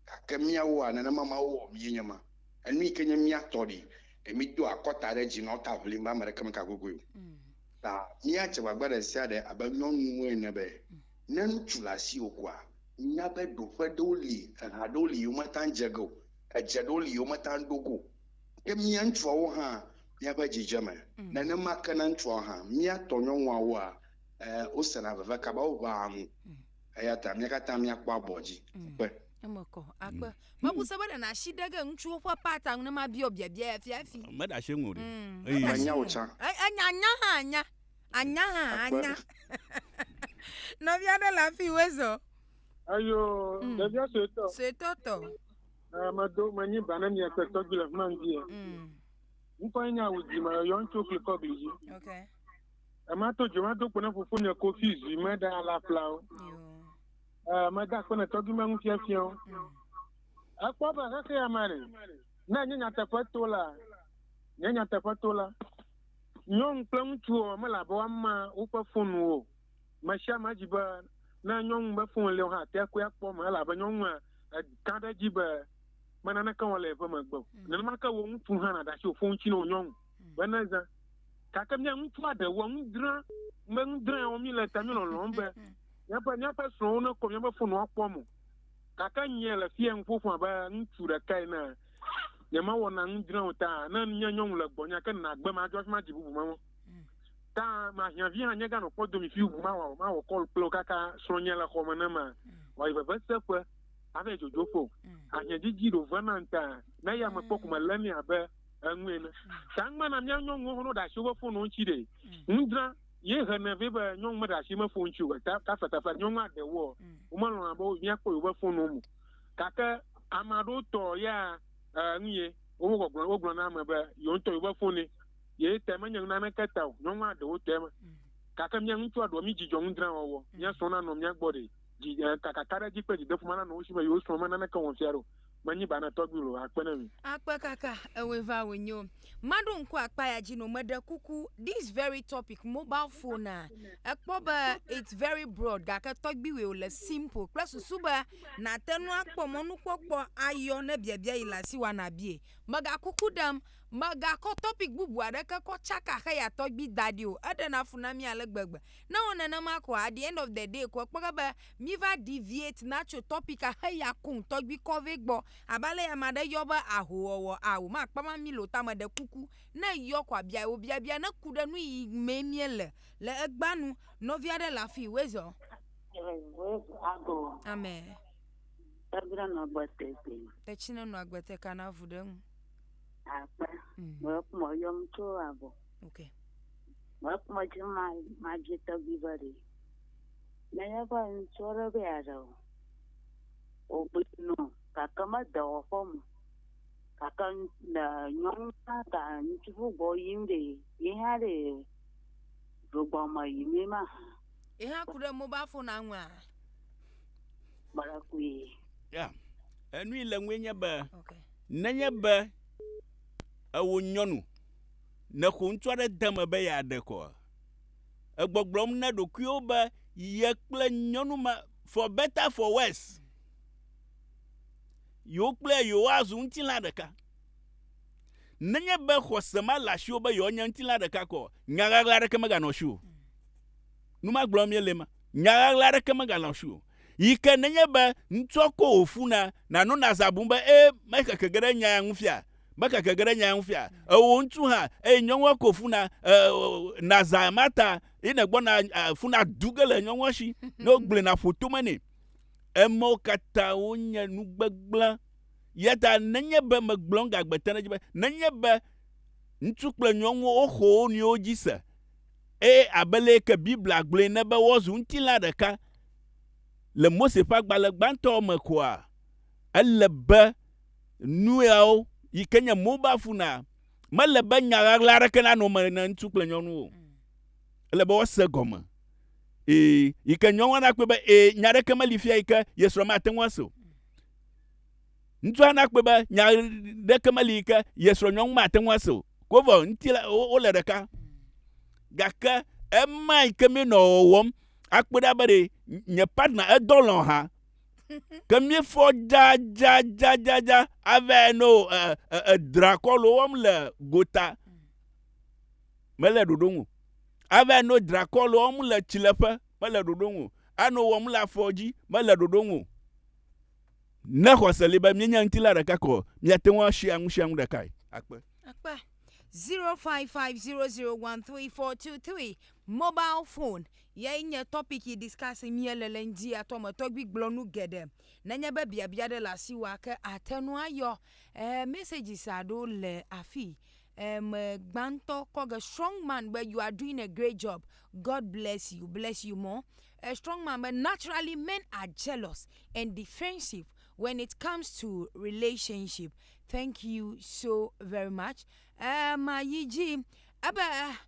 Gake míawoa nenema Mawu wɔ mí nye ma. Enu yi ke nye mía tɔ ɖi. Ɖe mído akɔta ɖe dzi nɔ ta ʋlim be ame ɖeke meka gogoe o. Ta míadze gbagba ɖe sia ɖe abe nyɔnuwo ene be. Ne ŋutsu le asiwò koa, nya be ɖoƒe ɖewo li, eha ɖewo li yi womate ŋu dze ge o, edze ɖewo li yi womate ŋu ɖo go o. Ke mía ŋutsuawo hã, míaƒe dzidzeme, nenema ke na ŋutsuawo hã. Mía tɔ nyɔnuawoa, e, wosena veve kaba, woʋãa nu. Eya ta mía katã míakpɔ abɔ dzi. Akpe. Eme kɔ. Akpe. Mebu se be ɖe nàsi ɖe ge ŋutsuwo ƒe part ŋu ne mabia wò biabia ya fia hafi. Meɖe asi eŋu o ɖe. Eye. Menya wò tsã. E, enya nya hã nya. Anya hã anya. Nɔvia ɖe le afi wezɔ. Eyo mm. ɖevia suetɔ. Suetɔ tɔ. Eh, medo menyi ba ne mia kpɛtɔ dzi le fima ŋdi ya. Mm. Ŋkɔ ye nye awudzi me yɔ ŋutsu klikɔ gli dzi. Okay. Ema to dzi ma do kpɔ ne fofo nye kofi zui me da la flawo. Eh, meda kpɔ ne tɔgbi me ŋufiafiawo. Mm. Ekpɔ be xexea me ne nye nyateƒe to la, nye nyateƒe to la. Nyɔnu kple ŋutsuwo mele abe woama woƒe foniwo o. Me sia me di be ne nyɔnu be foni le hã te koe akpɔ eme elabe nyɔnua eka ɖe edzi be me naneke wɔm le yeƒe megbe o. Mm. Nenema ke wò ŋutsu hã nàɖe asi wò foni ŋuti na wò nyɔnu mm. be nezã. Gake mía ŋutsua ɖewoa nu dzra me nu dzra wɔm mi le ta mi lɔlɔm be mm. míaƒe míaƒe srɔ̃wo nekɔ míaƒe foni akpɔ mo. Gake nyie le fia ŋuƒoƒo abe ŋutsu ɖeka ene nyemawɔ na nu dzra o ta ne nye nyɔnu le gbɔnya ke nagbe madzɔ afi ma dzi bubu mawɔ ta mahiãvi hã nye ganɔ kpɔ domi fi bubu mawɔ mawɔ kɔl kple kaka srɔ̃nye le xɔme ne ma wɔyi veve seƒe ave dzodzo ƒo ahiã dzidzi ɖo ve na ŋta ne ya me kpɔ kume lé ni abe enu ene ta ŋgbe na mía nyɔnuwo hɔnɔ ɖe asi woƒe fono ŋuti ɖe nu dzra ye hene vɛ be nyɔnu meɖe asi me fo ŋuti o ta ta fetafet nyɔnua ɖewo womelɔna be míakpɔ yewoƒe fono mo Gake ame aɖewo tɔ ya e, nu ye woƒe gbɔgblɔ wogblɔ na ame be yewo ŋutɔ yewo be fone ye tɛ menye nu naneke ta o. Nyɔnua ɖewo tɛ me. Mm. Gake mía ŋutsua ɖewo mí dzidzɔ ŋudrã wɔwɔ. Mm. Mía srɔ̃ nanɔ mía gbɔ ɖe dzi e, kakaka ɖe dzi kple dzideƒo mananɔ wo si be yewo srɔ̃ me naneke wɔm fia ɖe o. Menyi ba na tɔgbi lo. Akpe ne mi. Akpe kaka ewoe va wonyo. Maɖo ŋku akpa ya dzi no meɖe kuku this very topic mobile phone a ekpɔ be it's very broad gake tɔgbiwɛo le simple kple susu be nàte nu akpɔ mɔnukpɔkpɔ ayɔ ne biabia yi le asi wa nàbie. Mega kuku ɖem megakɔ topic bubu aɖeke kɔ tsaka xeya tɔgbi da ɖi o eɖena fu na mí ale gbegbe. Ne ewɔ nenema koa at the end of the day ko ekpɔ ge be Mi va deviate na tso topic a xe ya kum tɔgbi kɔve gbɔ abe ale ya ma ɖe yɔ be aho wɔwɔ a wo ma kpama mi lo tame ɖe kuku ne yɔ kɔa bia wo bia bia ne ku ɖe nuyi me mie le le egba nu nɔvi aɖe le afi wezɔ amen tɛdrɛ nɔ agbe tɛ tɛ tɛtsi ne nɔ agbe tɛ kana vu ɖe ŋu akpa mɛ kuma yɔ mu tso abɔ okay mɛ kuma dzi ma ma dzi tɔgbi va ɖe Nenye be ŋutsu aɖe be yeaɖe o, wògblɔe nɔ gake mede wɔƒe me o. Gake le nyɔnu hã ta ŋutsu bu gbɔ yim ɖe ye hã ɖe ɖogbɔ me yim ye mahã. Ye hã ku ɖe mobile phone aŋua? Mele kui. Ya, enu yi le ŋue nye be okay. nenye be ewo nyɔnu nexo ŋutsu aɖe de me be yeaɖe kɔ. egbɔgblɔm na ɖokuiwo be ye kple nyɔnu ma for better for worse yewo kple yewoazu ŋutilã ɖeka. Nenye be xɔse male asiwò be yewoanye ŋutilã ɖeka ko o, nya ɣaɣla aɖeke meganɔ asiwò. Nu ma gblɔm míele ma. Nya ɣaɣla aɖeke meganɔ asiwò. Yi ke nenye be ŋutsua ko wòfuna, nànɔ nàzã bum be, Ee, mexeke ge ɖe nya ya ŋu fia. Mekeke ge ɖe nyaa ŋu fia. Ewò ŋutsu hã, eye nyɔnua ko funa, e, na zã ma ta, ye nègbɔna e, funa du ge le nyɔnua si, ne wogblẽ na ƒo tome nɛ. Emɔwo katã wonye nu gbegblẽ. Yata nenye be megblɔ ŋgagbe te ɖe edzi be, nenye be ŋutsu kple nyɔnuwo woxɔ wo nɔewo dzi se, eye abe leye ke Biblia gblɔe ene be wozu ŋutilã ɖeka le Mose ƒe agbalẽ gbãtɔwo me koa, ele be nuyawo yi ke nye mobile phonea, mele be nya ɣaɣla aɖeke nanɔ eme na ŋutsu kple nyɔnu o. Ele be woase gɔme. Ee, yi ke nyɔnua nakpɔe be ee, nya aɖeke meli fia yi ke ye srɔ̃ mate ŋu ase o. Ŋutsua nakpɔe be nya aɖeke meli yi ke ye srɔ̃ nyɔnu mate ŋu ase o. Ke wovɔ ŋuti la, wole ɖeka. Gake ema yi ke míenɔ wɔwɔm akpɔe ɖa be ɖe nye partner edɔ lɔ̃ hã. ke míefɔ dzadzadzadzadza avae no edrakɔlo wɔm le gota mele ɖoɖo ŋu avae no drakɔlo wɔm le tsileƒe mele ɖoɖo ŋu ano wɔm le afɔ dzi mele ɖoɖo ŋu ne xɔse li be míenya ŋuti la ɖeka kɔ míate ŋu asi anu sia ŋu ɖekae akpe akpe 0550013423 mobile phone Yae nye topic yi discuss mía le le ŋdzi atɔ me tɔgbi gblɔ nu geɖe. Nenye be biabia ɖe le asiwòa ke ate nu ayɔ eh messages aɖo le afi eh me gbãtɔ kɔ ge strong man be you are doing a great job God bless you bless you more eh strong man be naturally men are jealous and defensive when it comes to relationship thank you so very much eh ma yi dzi ebe eh.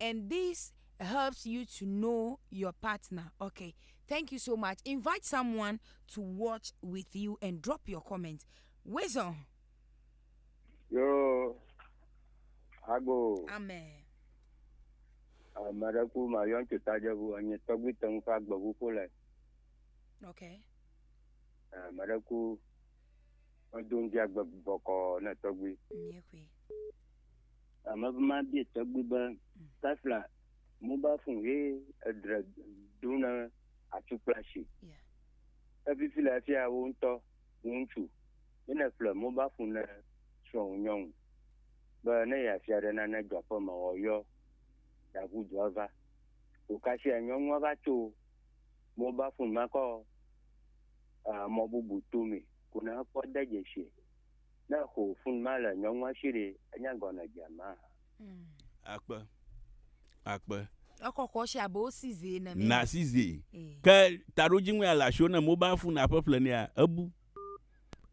and this helps you to know your partner okay thank you so much invite someone to watch with you and drop your comment wisdom Yo, hago. amen Ame ɖe ku ma yɔn tso tajevu enye tɔgbi te ŋu ƒe agbeʋu ƒo le. okay Ame ɖe ku medo ŋdi agbe bɔkɔ ne tɔgbi. mie kui Ame ƒe ma bie tɔgbi be Tesla mobile phone ye edre ɖo na atukplashi. Efifi le efia wo ŋutɔ ŋutsu ye ne ƒle mobile phone ne srɔ̃wò nyɔnu be ne yeafia ɖe nane dzɔ aƒe me wɔyɔ ɖaʋu dua va. Wòkasia nyɔnua va tso mobile phone makɔ mɔ bubu tome ko ne ekpɔ de dzesi Ne xo fun ma le nyɔnu ma shi ɖe, enya gɔnɔ dze ma ha. Hmm. Akpe. Akpe. Ekɔkɔ shi abe wo size ene mi. Na size. Eh. Ke taɖo dzi ŋua la shi ne mobile fun na ƒe ƒle nea, ebu.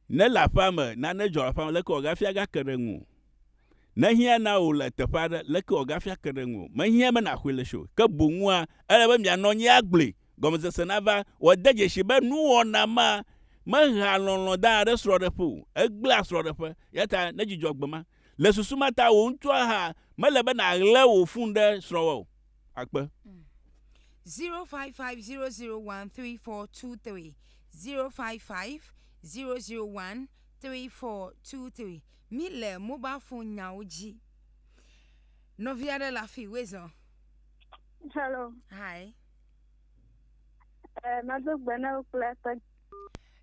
Ne le aƒea me, na ne dzɔ aƒea me, leke wɔ gafia ga ke ɖe ŋu. Ne hiã na wò le teƒe aɖe, leke wɔ gafia ke ɖe ŋu. Me hiã be na xɔe le shi o. Ke boŋua, ele be mia nɔ nyi agble gɔmesese nava. Wòade dzesi be nuwɔna ma mehea lɔlɔ̃ dana ɖe srɔ̃ɖeƒe o, egblẽa srɔ̃ɖeƒe. Eya ta nedzudzɔ gbe ma. Le susu ma ta, wò ŋutɔa hã mele be nàɣle wò fun ɖe srɔ̃wò o. Akpe. 0550013423 0550013423 Mi le mobile phone nyawo dzi. Nɔvi aɖe le afi, wezɔ. Hello. Hi. Eh, mado gbe na wo kple eƒe.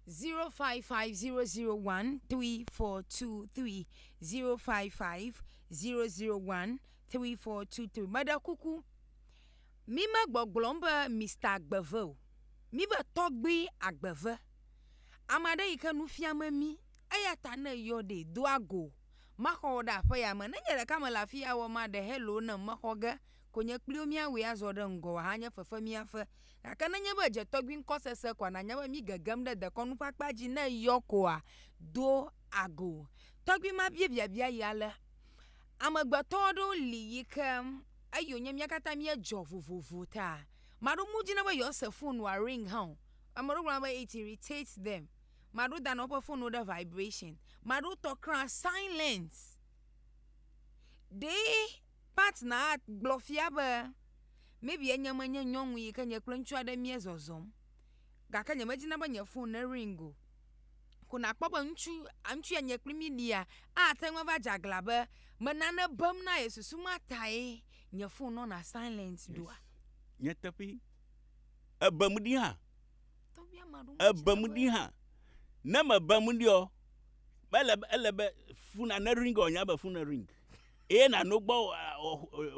0550013423 0550013423 meɖe kuku mime gbɔgblɔm be Mister Agbeve o mibe tɔgbui Agbeve ame aɖe yi ke nu fiam mi eya ta ne yɔ ɖi do ago maxɔ wò ɖe aƒeya me ne nye ɖeka mele afi ya wɔ ma ɖe hello ne mexɔ ge Konye kpli wo míawɔe azɔ ɖe ŋgɔ wòahanye fefe mía ƒe. Gake nenye be èdze tɔgbi ŋkɔ sese koa, nànya be mígegem ɖe dekɔnu ƒe akpa dzi ne eyɔ koa, do ago. Tɔgbi ma bia biabia yi ale, Amegbetɔ aɖewo li yi ke eyi wònye mía katã míedzɔ vovovo ta. Ame aɖewo mewɔ dzi na be yewoase fon wòa ring hã o. Ame aɖewo gblɔna be it irritates them. Ame aɖewo dana woƒe fonwo ɖe vibration. Ame aɖewo tɔ kraa silence. Ɖee Pat Nahat gblɔ fia be, Maybe nye menye nyɔnu yi ke nye kple ŋutsu aɖe míezɔzɔm, gake nyemedina be nye fon nering o. Ko nàkpɔ be ŋutsu, ŋutsu ya nye kple mí ɖia, ate ŋu ava dze aglã be me nane bem na ye susu ma tae nye fon nɔna silent ɖoa? Nyateƒee. Èbem ɖi hã. Èbem ɖi hã. Ne mèbem ɖiɔ, mele be, ele be fona nering o, anya be fon nering. eye nàno gbɔ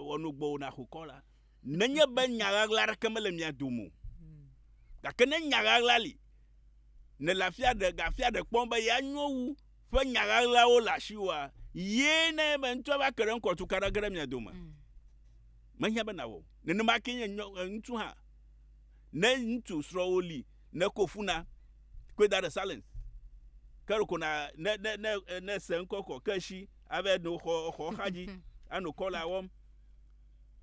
wòano gbɔwò nàxokɔ la, nenye be nya ɣaɣla aɖeke mele mia dome o. Gake ne nya ɣaɣla li, nèle afi aɖe ga afi aɖe kpɔm be yeanyo wu ƒe nya ɣaɣlawo le asiwòa, ye na ebe ŋutsu ava ke ɖe ŋkɔ tuka ɖe ge ɖe mia dome. Mehiã be nàwɔ o. Nenema kee nye ŋutsu hã. Ne ŋutsu srɔ̃wò li, neko fu na, koe da ɖe silence. Ke ɖeko na ne ne ne ne se ŋkɔ kɔ ke esi Ave no xɔ xɔ xa dzi anɔ kɔla wɔm.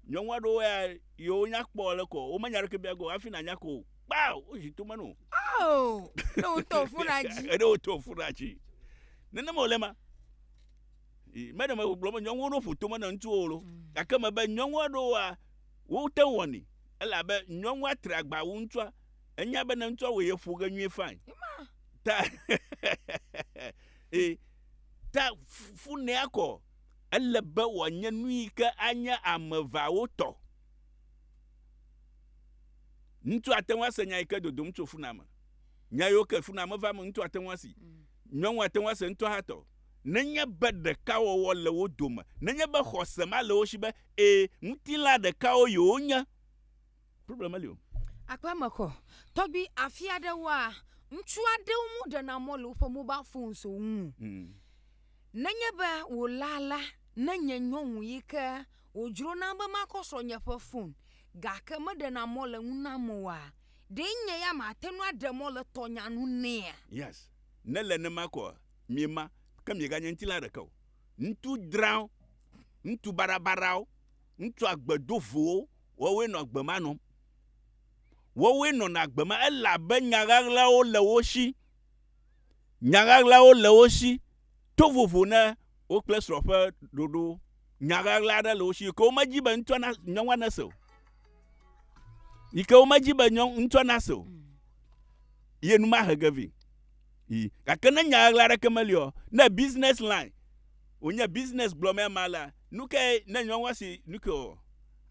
Nyɔnu aɖewo ya yewo nya kpɔ le kɔ wo menya ɖeke bia go hafi na nya ko kpao wo zi to menu. Oh, ne wo to funa dzi. Ede wo to funa dzi. Nene mo le ma. Me ɖe me gblɔ me nyɔnu ɖo ƒoto me na ŋutsu wo lo. Mm. Gake me be nyɔnu aɖewo wa wo te wɔni. Ele abe nyɔnu atre agba wo ŋutsua. Enya be ne ŋutsua wo ye ƒo ge nyuie fine. Ta. Eh. Ta funea kɔ. Ele be wòanye nu yi ke anye ame eveawo tɔ. Ŋutsu ate ŋu ase nya yi ke dodom tso funua me. Nya yiwo ke funua me va me, ŋutsu ate ŋu asi. Nyɔnua ate ŋu ase ŋutɔ hã tɔ. Nenye be ɖekawɔwɔ le wo dome, nenye be xɔse ma le wo si be, ẽ, ŋutilã ɖekawo yewonye, Problem meli o. Aƒemexɔ. Tɔgbi afi aɖewoa, ŋutsu aɖewo mu ɖena mɔ le woƒe mobal fonso ŋu. Hmm. Nenye be wòla la, ne nye nyɔnu yi ke wòdzro nam be makɔ srɔ̃nye ƒe fon gake meɖena mɔ le ŋu nam oa, ɖe nye ya mate ŋu aɖe mɔ le tɔnya nu nɛa? Yes. Ne le nema koa, miema, ke mieganye ŋutila ɖeke o. Ŋutsu drãwo, ŋutsu baɖabaɖawo. Ŋutsu agbedovowo, woawoe nɔ agbe ma nɔm. Woawoe nɔna agbe ma, elabe nya ɣaɣlawo le wo si. Nya ɣaɣlawo le wo si. To vovo na wo kple srɔ̃ ƒe ɖoɖowo. Nya ɣaɣla aɖe le wo si yi ke womedi be ŋutsua na, nyɔnua nase o. Yi ke womedi be nyɔ, ŋutsua nase o. Ye nu mahe ge vɛ. Yi. Gake ne nya ɣaɣla aɖeke meli o, ne business line wònye business gblɔmee ma la, nu kae ne nyɔnua si nu ke o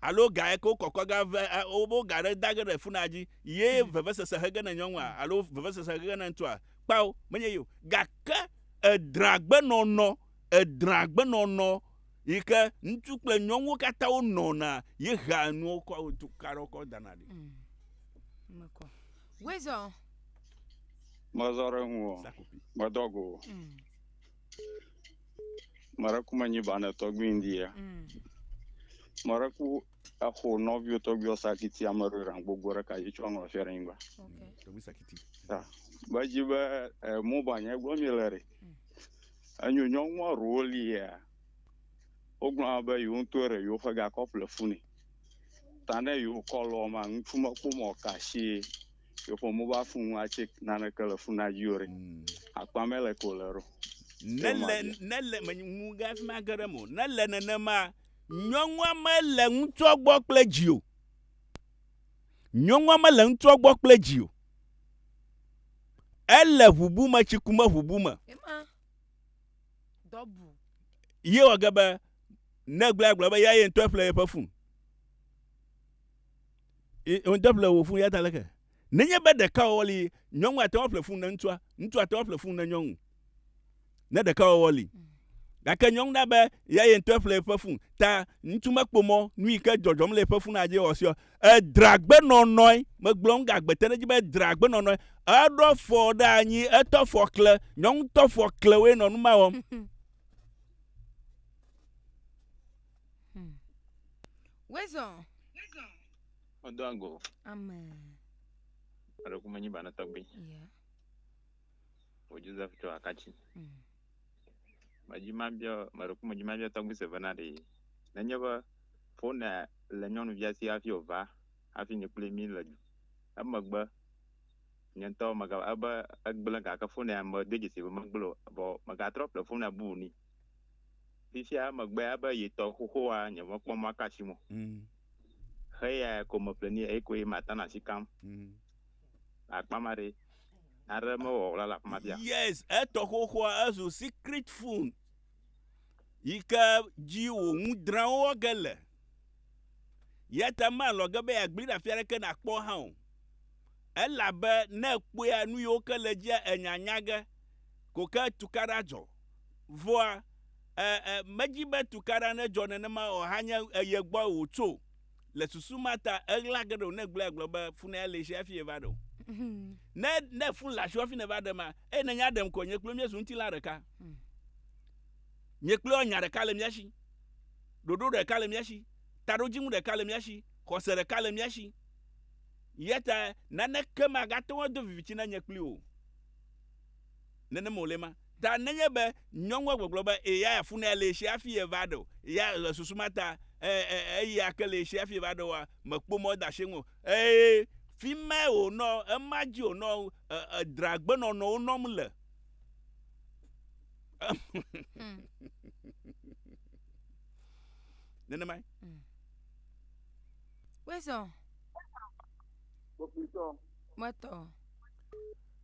alo ga yake wokɔkɔ ga ve a wo wo ga ɖe da ge ɖe funaa dzi ye vevesese he ge ne nyɔnua alo vevesese he ge ne ŋutsua? Kpao, menye ye o. Gake edrã agbenɔnɔ, edrã agbenɔnɔ yi ke ŋutsu kple nyɔnuwo katã wonɔna ye hea nuwo kɔ tu ka ɖe wo kɔ dana ɖi. Mekɔ. Wezɔ. Mezɔ ɖe ŋu o. Medɔ go o. Mm. Mara kuma nyi bana tɔgbi ndia. Mm. Mara ku exo nɔvio tɔgbio sakiti ame ɖo ran gbogbo ɖe kayi tsɔ nɔ fia ɖe nyigba. Okay. Tɔgbi sakiti. Ta. Ba dzi be eh, mo ba nye gbɔ mi le re. Mm. Enyo nyɔnua ro li ya. Ogblɔ be yo ŋutɔ re yo fe ga kɔple funi. ta ne yewo kɔ lɔ ma ŋutsu me kpɔ mɔ ka si yeƒe mo va funu atse nane ke le funa dzi o ɖe mm. akpa me le ko le ro ne le ne le me ŋu ga fi ma geɖe mo ne le nene ma nyɔnua me le ŋutsua gbɔ kple dzi o nyɔnua me le ŋutsua gbɔ kple dzi o ele ʋubu me tsi ku me ʋubu me ye wɔ ge be Ne gblɔe agblɔ be ya ye ŋutɔe ƒle yeƒe fun. Ŋutɔ ƒle wò fun ya ta leke. Nenye be ɖeka wɔwɔ li, nyɔnu ate ŋu ƒle fun ne ŋutsua, ŋutsu ate ŋu ƒle fun ne nyɔnu. Ne ɖeka wɔwɔ li. Gake nyɔnu na be ya ye ŋutɔe ƒle yeƒe fun. Ta ŋutsu mekpɔ mɔ nu yi ke dzɔdzɔm le yeƒe fun adze wɔ siɔ. Edra agbenɔnɔe. Megblɔ nu gagbete ɖe edzi be edra agbenɔnɔe. Eɖɔ fɔ ɖe anyi, etɔ fɔ kle. Nyɔnu tɔ fɔ kle woe nɔ nu ma wɔm. Hmm. Wezɔ. Medo ago. Amen. Eɖe kuma nyi bana tɔgbi. Yeah. O Joseph tɔ akatsi. Mm. Medzi ma bia meɖe kuma dzi ma bia tɔgbi se vena ɖe. Nenye be fone le nyɔnuvia si hafi ova hafi ni kple mi le emegbe Nye ŋutɔ mega ebe egblẽ gake fon ya medo dzesi be megblẽ o vɔ megatrɔ ƒle fon ya buu ni. Fifia emegbea ebe ye tɔ xoxoa nye mekpɔ mɔ aka asim o. Mm. Xe ya ko meƒle ni eyi koe mata na asi kam. Mm. Akpa ma ɖe naɖe mewɔ wla le afi ma bia. Yes, etɔ xoxoa ezu secret fon. yi ke dzi wò ŋu drãwo wɔ ge le. Ya ta malɔ̃ ge be yeagbli ɖe afi aɖeke nàkpɔ hã o. Elabe ne èkpɔea nu yiwo ke le edzia ènya nya ge ko ke tukaɖa dzɔ. Vɔa, e, e, medzi be tukaɖa nedzɔ nenema o hanye eye gbɔe wòtso. Le susu ma ta, eɣla ge ɖe o ne egblɔe agblɔ be fune ale si hafi eva ɖe o. Ne ne fun le asiwò hafi nèva ɖe ma, eye ne nya ɖem ko, nye kple míezu ŋutilã ɖeka. Nye kple nya ɖeka le mía si. Ɖoɖo ɖeka le mía si. Taɖodzinu ɖeka le mía si. Xɔse ɖeka le mía si. Eya ta naneke magate ŋu ado viviti na nye kpli wò o. nenem wòle ma. Ta nenye be nyɔnua gbɔgblɔ be eya funea le eshia fi ye va ɖe o, ya le susu ma ta e, e, eya ke le eshia fi ye va ɖe oa, mekpɔ mɔ de ashi eŋu. Eye fimae wònɔ, ema dzi wònɔ e, edra gbenɔnɔwo nɔm le. Hmm. Nenemae. Hmm. Wezɔ. Kpokpitɔ. Metɔ.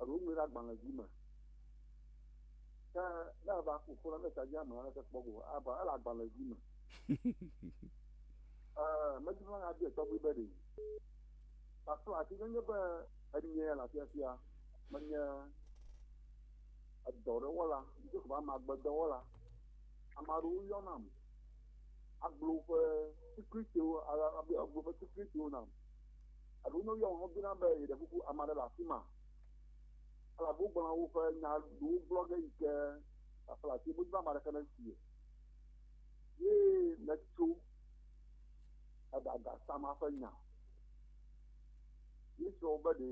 Eɖo ŋue ɖe agbalẽvi me. Ke ne eva ku ƒo na ne tsa dzi ame aleke kpɔ go ava ele agbalẽvi me. Ee, medi be maɖe abiɛ tɔgbi be ɖe. Pastor ati ne nye be enye le afiafia menye edɔ ɖe wɔla, ŋdɔ ko be ame agbedɔ wɔla. Ame aɖewo yɔ nam agblɔ woƒe secretiwo, agblɔ woƒe secretiwo nam. Eɖewo nye woyɔm hebina be yeɖe kuku ame aɖe le afi ma elabe wogblɔna woƒe nya ɖewo gblɔ ge yi ke aƒle ati womedi be ame aɖeke nesi o. Ye metso eɖaga Sama ƒe nya. Yesu wo be ɖe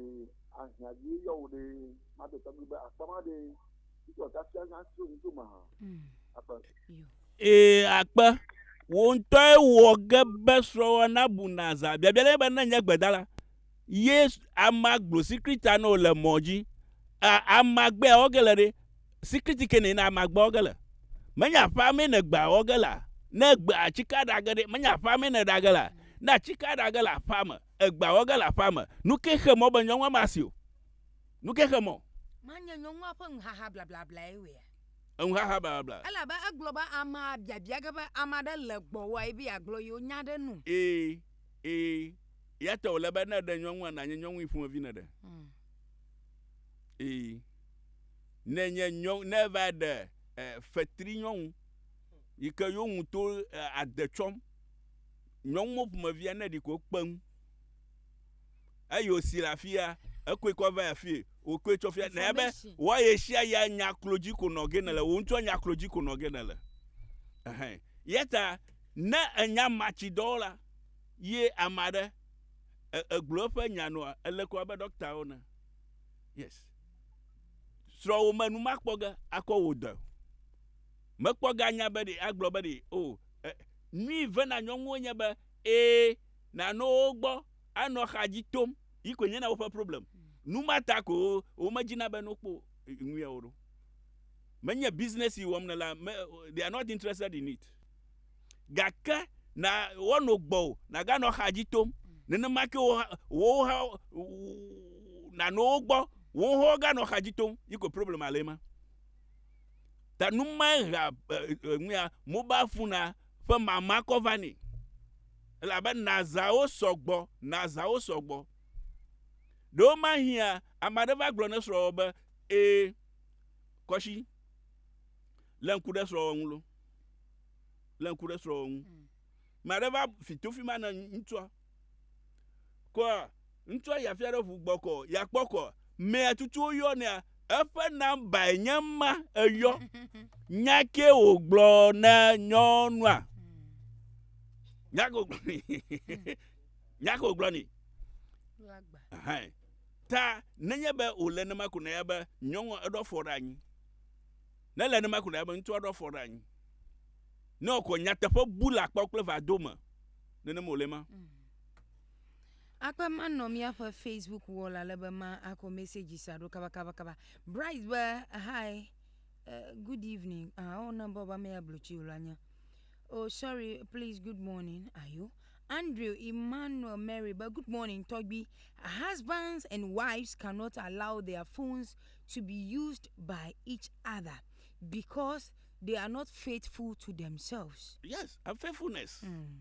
ahiã dzie yɔ wo ɖe mate tɔgbi be akpa ma ɖe Yesu ate afia nya tso ŋutsome hã. Akpa. Ee, akpe. Wò ŋutɔe wɔ ge be srɔ̃wòa nabu nàzã. Biabia le nye be ne nye gbedala ye ama gblɔ sikrita nɔ le mɔ dzi, a, ama gbe awɔ ge le ɖe? Sikriti ke nɛ na ama gbe awɔ ge le. Menye aƒea mee ne gbe awɔ ge le? Ne gbe atsike aɖa ge ɖe? Menye aƒea mee ne ɖa ge le? Ne atsike aɖa ge le aƒea me, egbe awɔ ge le aƒea me. Nu ke xe mɔ be nyɔnua masi o. Nu ke xe mɔ. Manye nyɔnua ƒe nuhaha blablablae wɔea? enuxaxa blablabla. Elabe egblɔ be amea biabia ge be ame aɖe le gbɔwòae be yeagblɔ yewo nya ɖe enu. Ee, ee, eyata wòle be ne èɖe nyɔnua, nànye nyɔnui ƒomevi nèɖe. Ee, ne enye nyɔ, ne eva ɖe e, fetri nyɔnu yi ke yewo ŋutɔ e, ade tsɔm, nyɔnuwo ƒomevia ne ɖi ko kpeŋ. eyi wòsi le afi ya, ekɔe kɔ va afii, wòkɔe tsɔ fia. Nènya be wɔ ye sia ya nya klo dzi ko nɔ ge nèle, wò ŋutɔ nya klo dzi ko nɔ ge nèle. Ɛhɛ. Ya ta ne ènya matsidɔwɔla ye ame aɖe e, egblɔ eƒe nya nɔa, ele ko abe ɖɔktawo ene. Yes. Srɔ̃wò me nu makpɔ ge akɔ wò dɔe o. Mekpɔ ge anya be ɖe agblɔ be ɖe o, e, nui vena nyɔnuwo nye be ee, nànɔ wo gbɔ. anɔ xa dzi tom yi koe nye na woƒe problem. Nu ma ta ko womedzina be no kpɔ nuya wo ɖo. Menye business yi wɔm nela, me, they are not interested in it. Gake na woano gbɔwò, naganɔ xa dzi tom. Nenema ke wo, wowo hã, nàno wo gbɔ, wowo hã woganɔ xa dzi tom yi koe problema le ema. Ta nu mae hea, nuya, mobile phone-a ƒe mamakɔ vanɛ. Elabe nazãwo sɔ gbɔ, nazãwo sɔ gbɔ. Ɖewomahiã ame aɖe va gblɔ na esrɔ̃wò be, Ẽ, kɔshi, lé ŋku ɖe srɔ̃wò ŋu lo. Lé ŋku ɖe srɔ̃wò ŋu. Ame aɖe va fi to fi ma na ŋutsua. Kɔa, Ŋutsua ya fia ɖe ʋu gbɔkɔ ya kpɔkɔ mea tutuwo yɔ nea eƒe nambae nye ma eyɔ. Nya ke wògblɔ na nyɔnua. Nya ke wògblɔ nɛ. Nya ke wògblɔ nɛ. Ta nenye be wòle nema ko na ya be nyɔnua eɖo afɔ ɖe anyi. Ne le nema ko na ya be ŋutsua ɖo afɔ ɖe anyi. Ne wòkɔ nyateƒe bu le akpɔ kple vado me. Nenema wòle ma. Mm. Akpe manɔ míaƒe Facebook wɔla le be ma akɔ message sa ɖo kaba kaba kaba. Bright be hi uh, good evening. Ah, oh na baba me abluchi ulanya. Oh sorry, please good morning. Ayo. Andrew Emmanuel Mary be good morning tɔgbi. Husbands and wives cannot allow their phones to be used by each other because they are not faithful to themselves. Yes, unfaithfulness. Mm.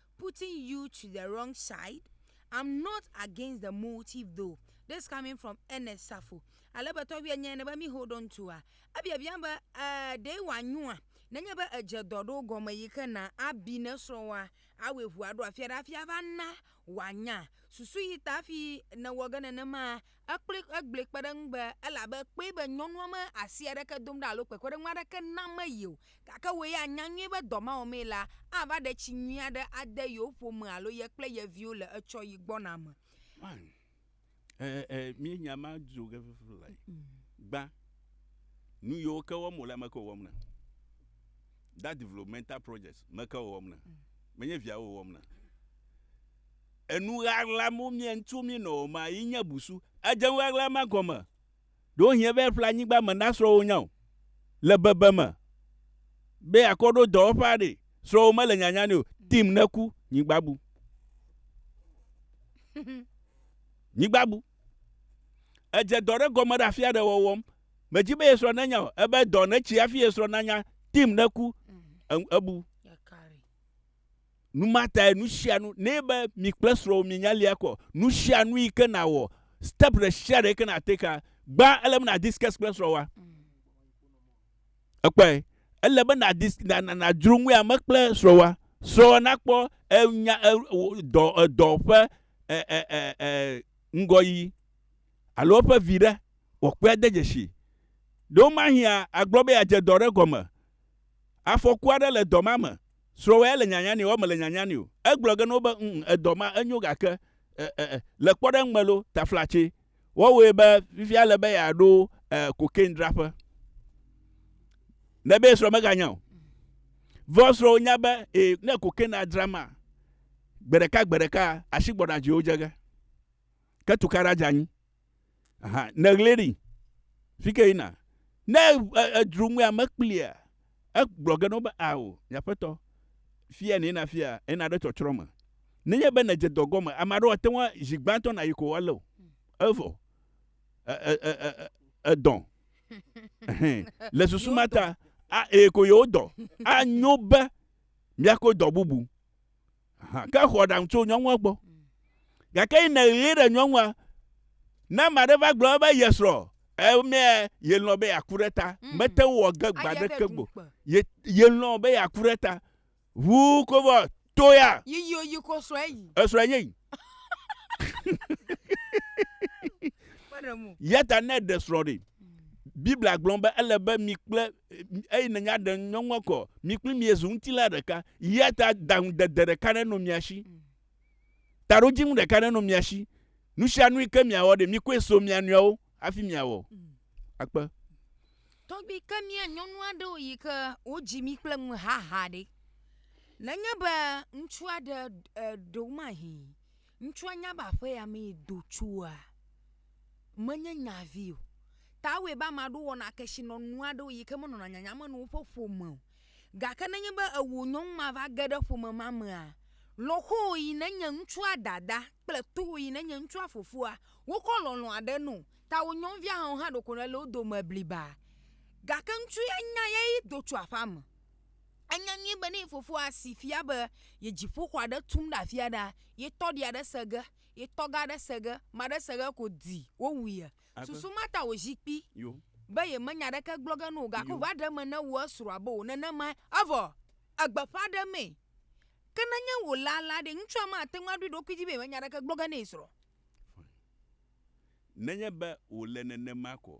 putting you to the wrong side, I'm not against the motive though, this coming from Ernest Safo. Ale be tɔgbuia nyae ne be mi hold on to a, ebiabiam be eh, ɖee wòanyoa nenye be edze dɔ ɖo gɔme yi ke na abi ne srɔ̃wòa awɔe ŋu aɖo afia ɖe hafi ava na wòanya susu yi ta hafi nèwɔ ge nenemaa Ekpli egblɔe kpe ɖe eŋu be elabe kpɔe be nyɔnua me asi aɖeke dom ɖa alo kpekpeɖeŋu aɖeke nam eye o, gake wò ya anya nyuie be dɔ ma wɔmee la ava ɖe tsi nyui aɖe ade yewo ƒome alo ye kple ye viwo le etsɔɣi gbɔna me. Fine. Ɛɛ, ɛɛ, míenya ema dzo ge vevie lae. Gbã, nu yiwo ke wɔm wòlea, ame kae wòwɔm na? That developmental projects, ame kae wòwɔm na? Menye viawo wòwɔm na. Enu ɣaɣla mo mie ŋtso mi nɔ o ma yi nye busu. Edze ŋ ɣaɣla ma gɔme. Ɖo ŋ hie be eƒle anyigba me na srɔ̃ wo nya o. Le bebe me be akɔ ɖo dɔwɔƒe aɖe, srɔ̃ wo mele nyanya nɛ o. Dim ne ku, nyigba bu. Nyigba bu. Edze dɔ ɖe gɔme ɖe afi aɖe wɔwɔm. Me dzi be ye srɔ̃ ne nya o. Ebe dɔ ne tsi afi ye srɔ̃ na nya. Dim ne ku, ebu. Nu ma tae nu sia nu, ne be mi kple srɔ̃wò mienya lia kɔ, nu sia nu yi ke nàwɔ, step ɖe sia ɖe yi ke nàtake la, gbã ele be nàdiscuss kple srɔ̃wòa. Ekpɔe? Ele be nàdis, na, na, nàdzro ŋu ame kple srɔ̃wòa. Srɔ̃wòa nakpɔ enya, e, dɔ, edɔ ƒe, e, e, e, e, ŋgɔyi alo eƒe vi ɖe wòakpɔe ade dzesi. Ɖewomahi agblɔ be yeadze dɔ ɖe gɔme. Afɔku aɖe le dɔ ma me. Srɔwɛ ele nyanya nɛ oa mele nyanya nɛ o egblɔ ge no be ŋ edɔ ma enyo gake e e e le kpɔɖeŋ me lo taflatse wɔwoe be fifia ele be ya ɖo e cocaine draƒe ne be srɔ me ga nya o vɔ srɔwo nya be e ne cocaine a dra ma gbeɖeka gbeɖeka asi gbɔɖa dzi wo dze ge ke tukaɖa dze anyi. Aha, neɣli ɖi. Fike yina. Ne edro ŋue ame kplia, egblɔ ge nɔ be, Ao, nye aƒetɔ, fia nɛ na fia, ena ɖe tsɔtsrɔ̃ me. Nenye be nedze dɔ gɔme, ame aɖewo ate ŋu zi gbãtɔ nayi ko woalé o. Evɔ, e, e, e, e, e, edɔ. Ɛhɛn. Le susu ma ta, a, e, ko yewodɔ. Anyo be miako dɔ bubu. Ke xɔ aɖaŋu tso nyɔnua gbɔ. Gake yi nèɣli ɖe nyɔnua, ne ame aɖe va gblɔ be ye srɔ̃, emea yelɔ̃ be yeaku ɖe ta. Mm. Mete ŋu wɔ ge gbe aɖeke gbo. Ye yelɔ̃ be yeaku ɖe ta. Ʋu kovɔ to ya. Yiyi oyi ko srɔ̃ eyi. Esrɔ̃ enye yi. Yata ne ɖe srɔ̃ ɖi. Biblia gblɔ be ele be mi kple eye ne nya ɖe nyɔnua kɔ, mi kple mi zu ŋutila ɖeka. Ya ta daŋudede ɖeka nenɔ mia si. Mm. Taɖodzinu ɖeka nenɔ mia si. Nu sia nu ke miawɔ ɖe, mikɔe so mia nɔewo hafi miawɔ. Mm. Akpe. Tɔgbi ke mia nyɔnu aɖewo yi ke wodzi mi kple nu haha ɖe. Nenye be ŋutsu aɖe ɖo mahi Ŋutsua nya be aƒea mee do tsoa? Menye nya vi o. Ta ewɔe be ame aɖewo wɔna kesinɔnu aɖewo yi ke menɔna nyanyame na woƒe ƒome o. Gake nenye be ewò nyɔnu ma va ge ɖe ƒome ma mea, lɔ̃xowò yi nenye ŋutsua dada kple towò yi nenye ŋutsua fofoa, wokɔ lɔlɔ̃ aɖe nɛ o. Ta wò nyɔnuvia hã ɖeko nèle wo dome bliba. Gake ŋutsu ya nya eyae do tso aƒea me. Enya nyuie be ne ye fofoa si fia be ye dziƒoxɔ aɖe tum ɖe afi aɖea, ye tɔ ɖi aɖe se ge, ye tɔ ge aɖe se ge, ame aɖe se ge ko di wowu ye. Susu ma ta wòzi kpi be yemenya aɖeke gblɔ ge na wò o. Gake wòva ɖe eme na wu esrɔ̃a be wò nenemae. Evɔ egbe ƒã ɖe emee. Ke nenye wòle alea ɖe, ŋutsua mate ŋu aɖo eɖokui dzi be yemenya aɖeke gblɔ ge na ye srɔ̃ o. Nenye be wòle nenema koa,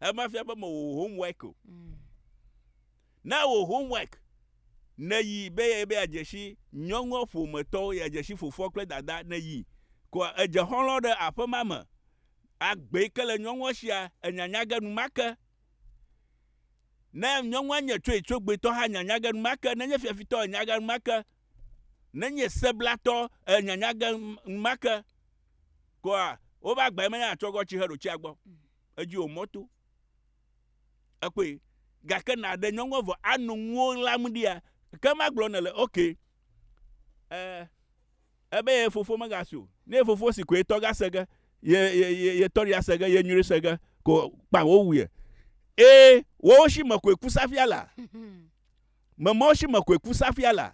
Ema fia be mewɔ wò homework o. Mm. Na wò homework. Nèyi be ye be adzeshi nyɔnua ƒometɔwo, ye adzeshi fofoa kple dada nèyi. Koa edze xɔlɔ ɖe aƒe ma me. Agbee ke le nyɔnua shia enyanya ge numake. Ne nyɔnua nye tsoe tsogbetɔ hã nyanya ge numake. Nenye fiafitɔ enya ge numake. Nenye seblatɔ enyanya ge numake. Koa wobe agbae menye atsɔ gɔ tsi heɖo tsia gbɔ. Mm. edzi wò mɔto. Ekpɔe. Gake nàɖe nyɔnua vɔ ano ŋuwo ɣlam ɖia? Ke magblɔ nele, ok, e, ebe ye fofo megasi o. Ne ye fofo si ko ye tɔ gase ge, ye, ye, ye, ye tɔ ɖi ase ge, ye nyuiri se ge, ko kpã wowu ye. Ee, woawo shi me koe ku safia lea? Me mawo shi me koe ku safia lea?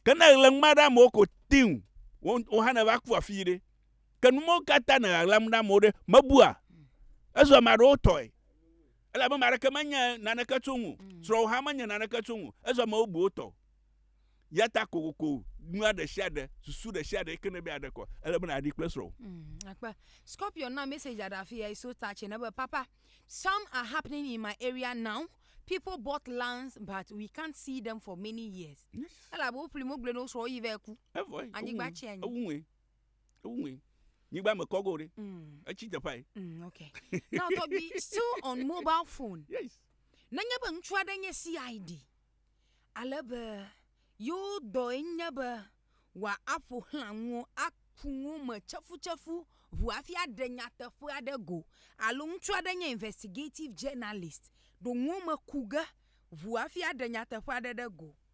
Ke ne ɣle ŋma ɖe amewo ko tiŋ, wo, wo hã neva ku afii ɖe? Ke nu mawo katã nɔ ɣaɣlam na amewo ɖe, mebua? Ezu ame aɖewo tɔe. Elabe ame aɖeke menye naneke tso ŋu. Mm. Srɔ̃wò hã menye naneke tso ŋu. Ezu ame bubuwo tɔ. Yata kokoko nua ɖe sia ɖe, susu ɖe sia ɖe yike nebe aɖe kɔ, ele be nàɖi kple srɔ̃wò. Mm, akpe. Scorpion na message aɖe afi ya so touch ne be papa, some are happening in my area now. People bought lands but we can't see them for many years. Elabe woƒli mo gblẽ ne wosrɔ̃ wo yi vɛ ku. Evɔe. Anyigba tsi anyi. Ewuŋue. Ewuŋe. Nyigba me kɔgo ɖe. Mm. Etsi teƒae. Mm, okay. Now Toby, still on mobile phone. Yes. Nenye be ŋutsu aɖe nye CID, ale be yewo dɔe nye be wòaƒo xlã nuwo, aku nuwo me tsefutsefu ʋu hafi aɖe nyateƒe aɖe go. Alo ŋutsu aɖe nye investigative journalist, ɖo nuwo me ku ge ʋu hafi aɖe nyateƒe aɖe ɖe go.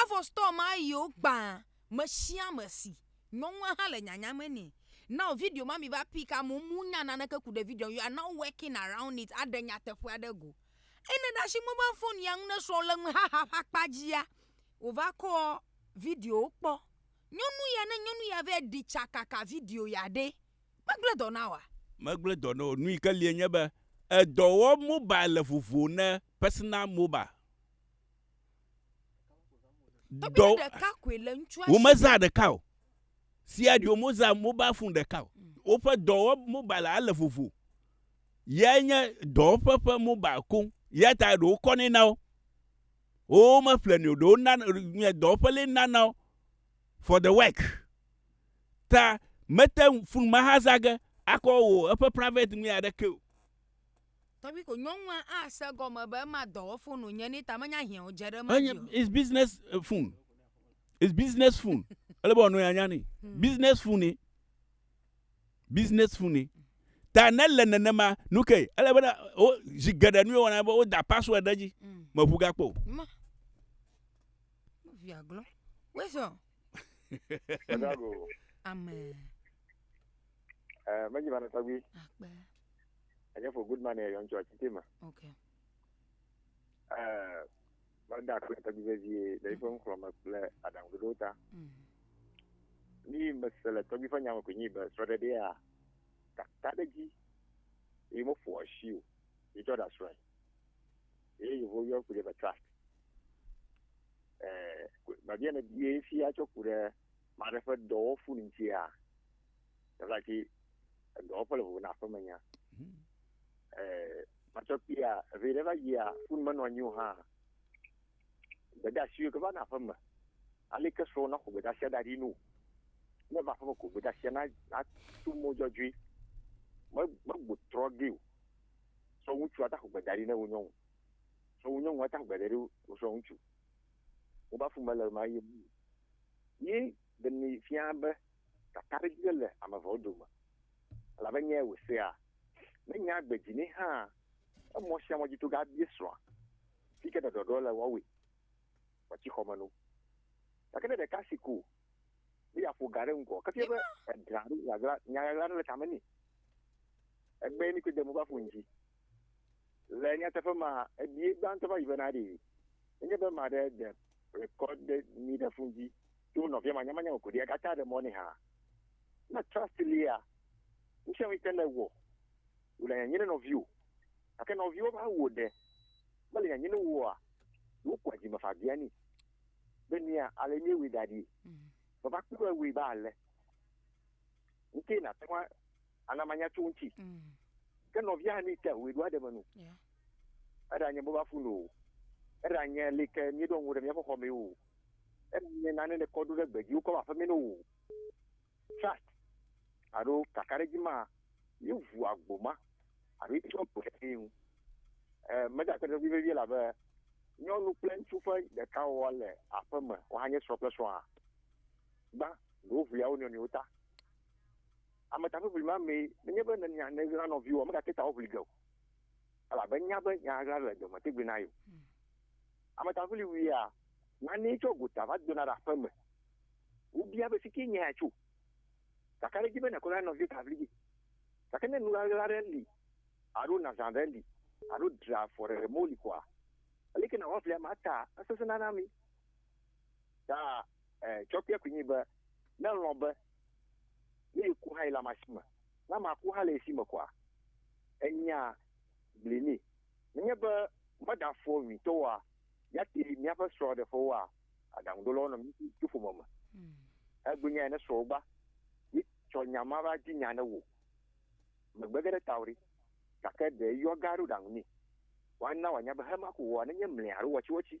Avɔ store ma yiwo gbã mesiame si nyɔnua ha le nyanya me nɛ. Now video ma mi va pick amewo mu nya naneke ku ɖe video you are now working around it aɖe nyateƒea ɖe go. Eyi ne ɖe asi mobile phone ya ŋu ne srɔ̃ le ŋu haha ƒe akpa dzia wo va kɔ video kpɔ. Nyɔnu ya ne nyɔnu ya vɛ ɖi tsa kaka video ya ɖe megble dɔ na woa? Megble dɔ na wo. Nu yike lie nye be edɔ wɔ mobile le vovo ne personal mobile. dɔ womezã ɖeka o sia ɖi womezã mobile phone ɖeka o mm. woƒe dɔwɔ mobile ale vovo yae nye dɔwɔƒe ƒe mobile koŋ ya ta ɖewo kɔnɛ na wo wowo meƒlenɛ o ɖewo na nye dɔwɔƒe lɛ nana wo for the work ta mete fun mahazage akɔ wò eƒe private mi aɖeke o Enye it's business eh, phone. It's business phone. Ele be wòanɔ anya ni. Hmm. Business phone ni. Business phone ni. Ta ne le nenema nu ke ele be wo zi geɖe nu wɔna be woda password ɖe edzi. Hmm. Meʋu gakpo. Ma. Via glɔ. Wesɔ. Amen. Eh, mɛdzi ma ne tɔgbi. Akpɛ. Enye for good man yɔ ŋtsɔ titi ma. Ok. Ɛɛ, meda akpe tɔgbi vevie le eƒe ŋxlɔ me kple aɖaŋuɖoɖo ta. Mhm. Ni mese le tɔgbi ƒe nya me koe nyi be srɔ̃ɖeɖea kaka ɖe dzi eye meƒo asi o. Yetsɔ ɖa srɔ̃e. Eye yevo yɔ ku ɖe be trust. Ɛɛ, babia ne bie fia tsɔ ku ɖe maɖe ƒe dɔwɔfu ŋutia. Tata ki edɔwɔƒe le vovo na aƒeme nya. Hmm. Eh, Matsɔkpia, evi ɖe va yia, fun menɔ anyi o hã. Gbedasiwo ke va na aƒeme. Ali ke srɔ̃ na xɔ gbedasia da ɖi nu. Ne va aƒeme ko gbedasia na na tu mo dzɔdzɔe. Me me gbotrɔ ge o. Sɔ ŋutsu ata xɔ gbeda ɖi ne wo nyɔnu. Sɔ wo nyɔnu ata gbeda ɖi wo sɔ ŋutsu. Wo ba fun mele ma ye. Ye demi fia be kakaɖedzi ɖe le ame eveawo dome, elabe nyae wòsea. Ne nyaa gbe dzi nɛ hãa, emɔ sia mɔ dzi to ge abia srɔ̃a si ke ɖɔɖɔɖɔ le woawoe wòatsi xɔme no. Gake ne ɖeka si ko be yeaƒo ga ɖe ŋgɔ kefia be eglã alo nya ɣaɣla aɖe le tame nɛ, egbee mi kpɔe de mo va ƒo nu dzi. Le nyateƒe me, ebie gbãtɔ va yi bena ɖe enye be ame aɖe de rekɔɖe nyui ɖe fon dzi tso nɔvia manyamanya me ko ɖi agate aɖe mɔ nɛ hã. Ne trɔsti lia, nu sia nu si te le wɔ wòle nyanyɛ ne nɔviwò. Gake nɔviwò va wò ɖe mele nyanyɛ ne woa, ɖewo kɔa dzime faa bianɛ be nea ale míewɔe da ɖi. Vava kpɔe wɔe be ale. ŋuti nàte ŋu ana manya tso ŋuti. Mm. Ke nɔvia hã mite wòe ɖo aɖeme nu. Eɖa nye boba funu o. Eɖa nye li ke míeɖo ŋu ɖe míaƒe xɔ mee o. Eɖa nye nane le kɔ ɖo ɖe gbe dzi wokɔ aƒe mee o. Trust alo kakaɖedzi ma ye ʋu agbo ma alo ye tsɔ gbe ɖe ŋu. Meda akpe ɖe eŋu vevie la be nyɔnu kple ŋutsu ƒe ɖeka wɔwɔ le aƒeme woanye srɔ̃ kple srɔ̃a. gbã ɖo ʋlia wo nɔnɔewo ta. Ame ta ʋiʋli ma mee nenye be nènya nèɣla nɔviwoa, megate ta wo ʋli ge o. Elabe nya be nya ɣla le dɔme tegbe na ye o. Hmm. Ame ta ʋili wuia, nanee tsɔ gota va dona ɖe aƒe me. Wobia be fike nya ya tso. Gake ɖe dzi be nàkɔ na nɔvio ta ʋli ge. Gake ne nu ɣaɣla aɖe li alo nazã aɖe li alo dra afɔ ɖe mɔ li kɔa, aleke nàwɔ aʋlia ma ta esesẽna na mi. Ta eh, tsɔ kpe kunyi be ne lɔn be ne yi ku hã yi la ma si me na ma ku hã le si me kɔa enya bli ni ne nye be me da fo mi to wa ya ti mi aƒe srɔ de fo wa adangu do lɔn mi ti fo me me hmm. e gbe nya ne srɔ ba yi tsɔ nya ma ba ji nya ne wo me gbe gede tawri kake de yɔ garu dangu ni wa na wa nya be hema ku wa ne nye mle aro wachi wachi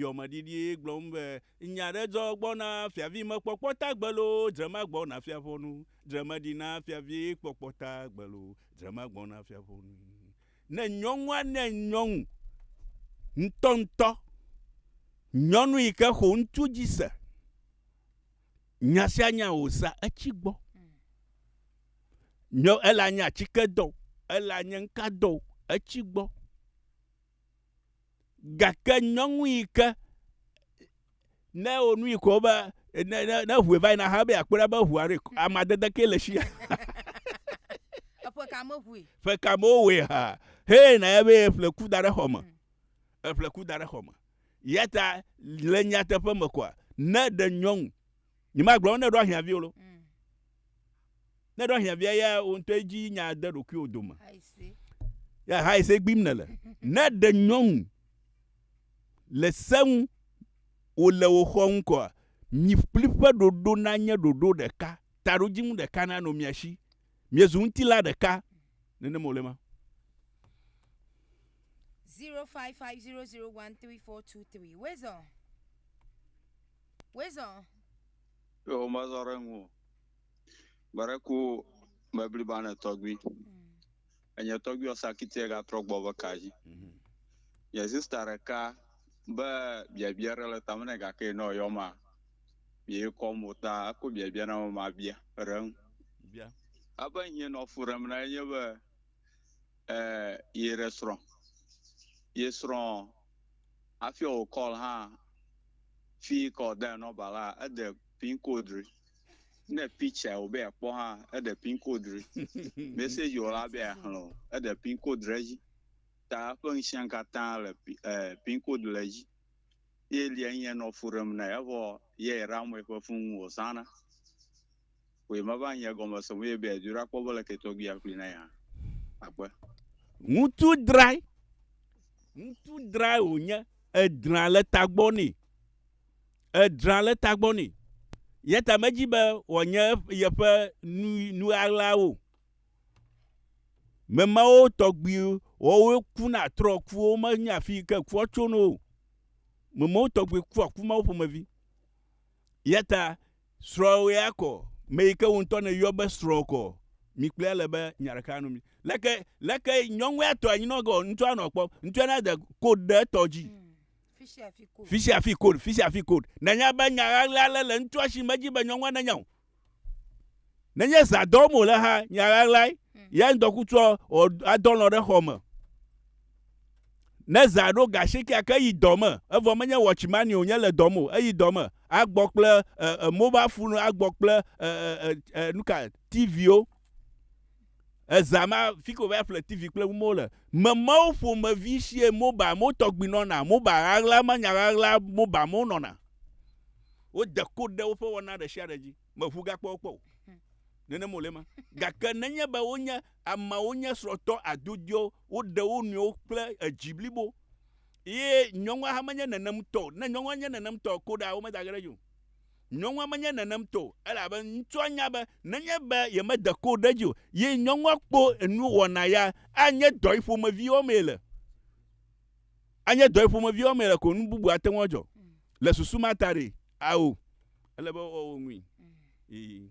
yɔmeɖiɖi gblɔm be, Nya aɖe dzɔ gbɔna, fiavimekpɔkpɔ ta gbe loo, drema gbɔna fiaƒɔnu, dremeɖina fiavikpɔkpɔ ta gbe loo, drema gbɔna fiaƒɔnu. Ne nyɔnua ne nyɔnu ŋutɔŋutɔ, nyɔnu yi ke xo ŋutsu dzi se, nya sia nya wòsa etsi gbɔ. Nyɔ, ele anye atike dɔ o, ele anye ŋka dɔ o, etsi gbɔ. Gake nyɔnu yi ke ne wonu yi ko be ne ne ne ʋue va yina hã be akpɔ ɖa be ʋua ɖe amadede ke le sia. Eƒe ka me ʋue. Ƒe ka me wowɔe ha. Hee na ya be eƒle ku da ɖe xɔ me. Mm. Eƒle ku da ɖe xɔ me. Yata le nyateƒe me kɔa ne ɖe nyɔnu Nyemagblɔ ne ɖo ahiãvi o lo. Mm. Ne ɖo ahiãvia ya wo ŋutɔ edzi nya de ɖokuiwo dome. Ya ha ese gbim ne le. Ne ɖe nyɔnu le seŋu wo le wo xɔ ŋkɔa mi kpli ƒe ɖoɖo na nye ɖoɖo ɖeka taɖo dziŋu ɖeka na no mia shi. Miezu ŋutila ɖeka nene mo le ma. 0550013423 Wezɔ. Wezɔ. Yo womezɔ ɖe ŋu o. Gbe ɖe ku me bliba ne tɔgbui. Enye tɔgbui wɔ sakitiɛ ga trɔ gbɔ be ka dzi. Nye sista ɖeka be biabia ɖe le tame nɛ gake nɔ yɔ ma mi ye kɔ mo ta eko biabia na me ma bia ɖe ŋu. Bia. Ebe ŋye nɔ fu ɖem na ye nye be e ye ɖe srɔ̃. Ye srɔ̃. Hafi wò call hã fi yikɔ de number la eɖe pin code ɖi. Ne picture wò be akpɔ hã eɖe pin code ɖi. Message wò la be axlẽ o eɖe pin code ɖe edzi. Ta eƒe ŋusẽ katã le pin code le edzi. Ye lia nye nɔ fu ɖem nɛ evɔ ye Ramway ƒe fun wò zãna. Koe mava nye gɔme se mɔ ye be yeadzoe ɖakpɔ be leke tɔgbi yeaxlui na ye hã. Akpe. Ŋutsu drae. Ŋutsu drae wònye. Edra le tagbɔ nɛ. Edra le tagbɔ nɛ. Ya ta medi be wòanye yeƒe nu, nu ɣaɣlawo o. Me mawo tɔgbi wɔwoe kuna trɔ ku wo menya afi yi ke kua tso no o. Me mawo tɔgbi kua ku mawo ƒomevi. Ya ta Srɔ̃wòe akɔ, me yi ke wò ŋutɔ nèyɔ be srɔ̃ kɔ. Mi kplɔe ale be nya ɖeka nu mi. Leke, leke nyɔnue atɔ anyinɔge ɔ, ŋutsua nɔ kpɔm. Ŋutsua na de code ɖe etɔ dzi. Fisiafi code, fisiafi code. Nanya be nya ɣaɣla ale le ŋutsua shi medzi be nyɔnua nenya o. Nenye zã dɔ wɔm wòle hã, nya ɣaɣlae. Yea ŋdɔkutsuɔ, ɔ, adɔ lɔ̃ ɖe xɔ me. Ne zã ɖo ga asiekea ke eyi dɔ me, evɔ menye watchmani o nye le dɔ me o, eyi dɔ me agbɔ kple e, e, mobile phone agbɔ kple e, e, e, e, nuka TVwo. Ezã ma fike wòva ƒle TV kple numawo le. Memawo ƒomevi sie mobile mo tɔgbi nɔna, mobile ɣaɣla ma nya ɣaɣla mobile mo nɔna. Wode code ɖe woƒe wɔna ɖe sia ɖe dzi. meʋu gakpɔ wo kpɔ o. Hmm. Nenem wòle ma. Gake nenye be wonye ameawo nye srɔ̃tɔ adodoewo, woɖe wo nɔewo kple edzi blibo. Ye nyɔnua hã menye nenem tɔ o. Ne nyɔnua nye nenem tɔ ko ɖa womeda ge ɖe edzi o. Nyɔnua menye nenem tɔ o elabe ŋutsua nya be nenye be yemede ko ɖe edzi o, ye nyɔnua kpɔ enu wɔna ya anye dɔ yi ƒomevi wɔmee le. Anye dɔ yi ƒomevi wɔmee le ko nu bubu ate ŋu adzɔ. Hmm. Le susu ma ta ɖee. Ao, ele be woawɔ wo ŋui. Ee.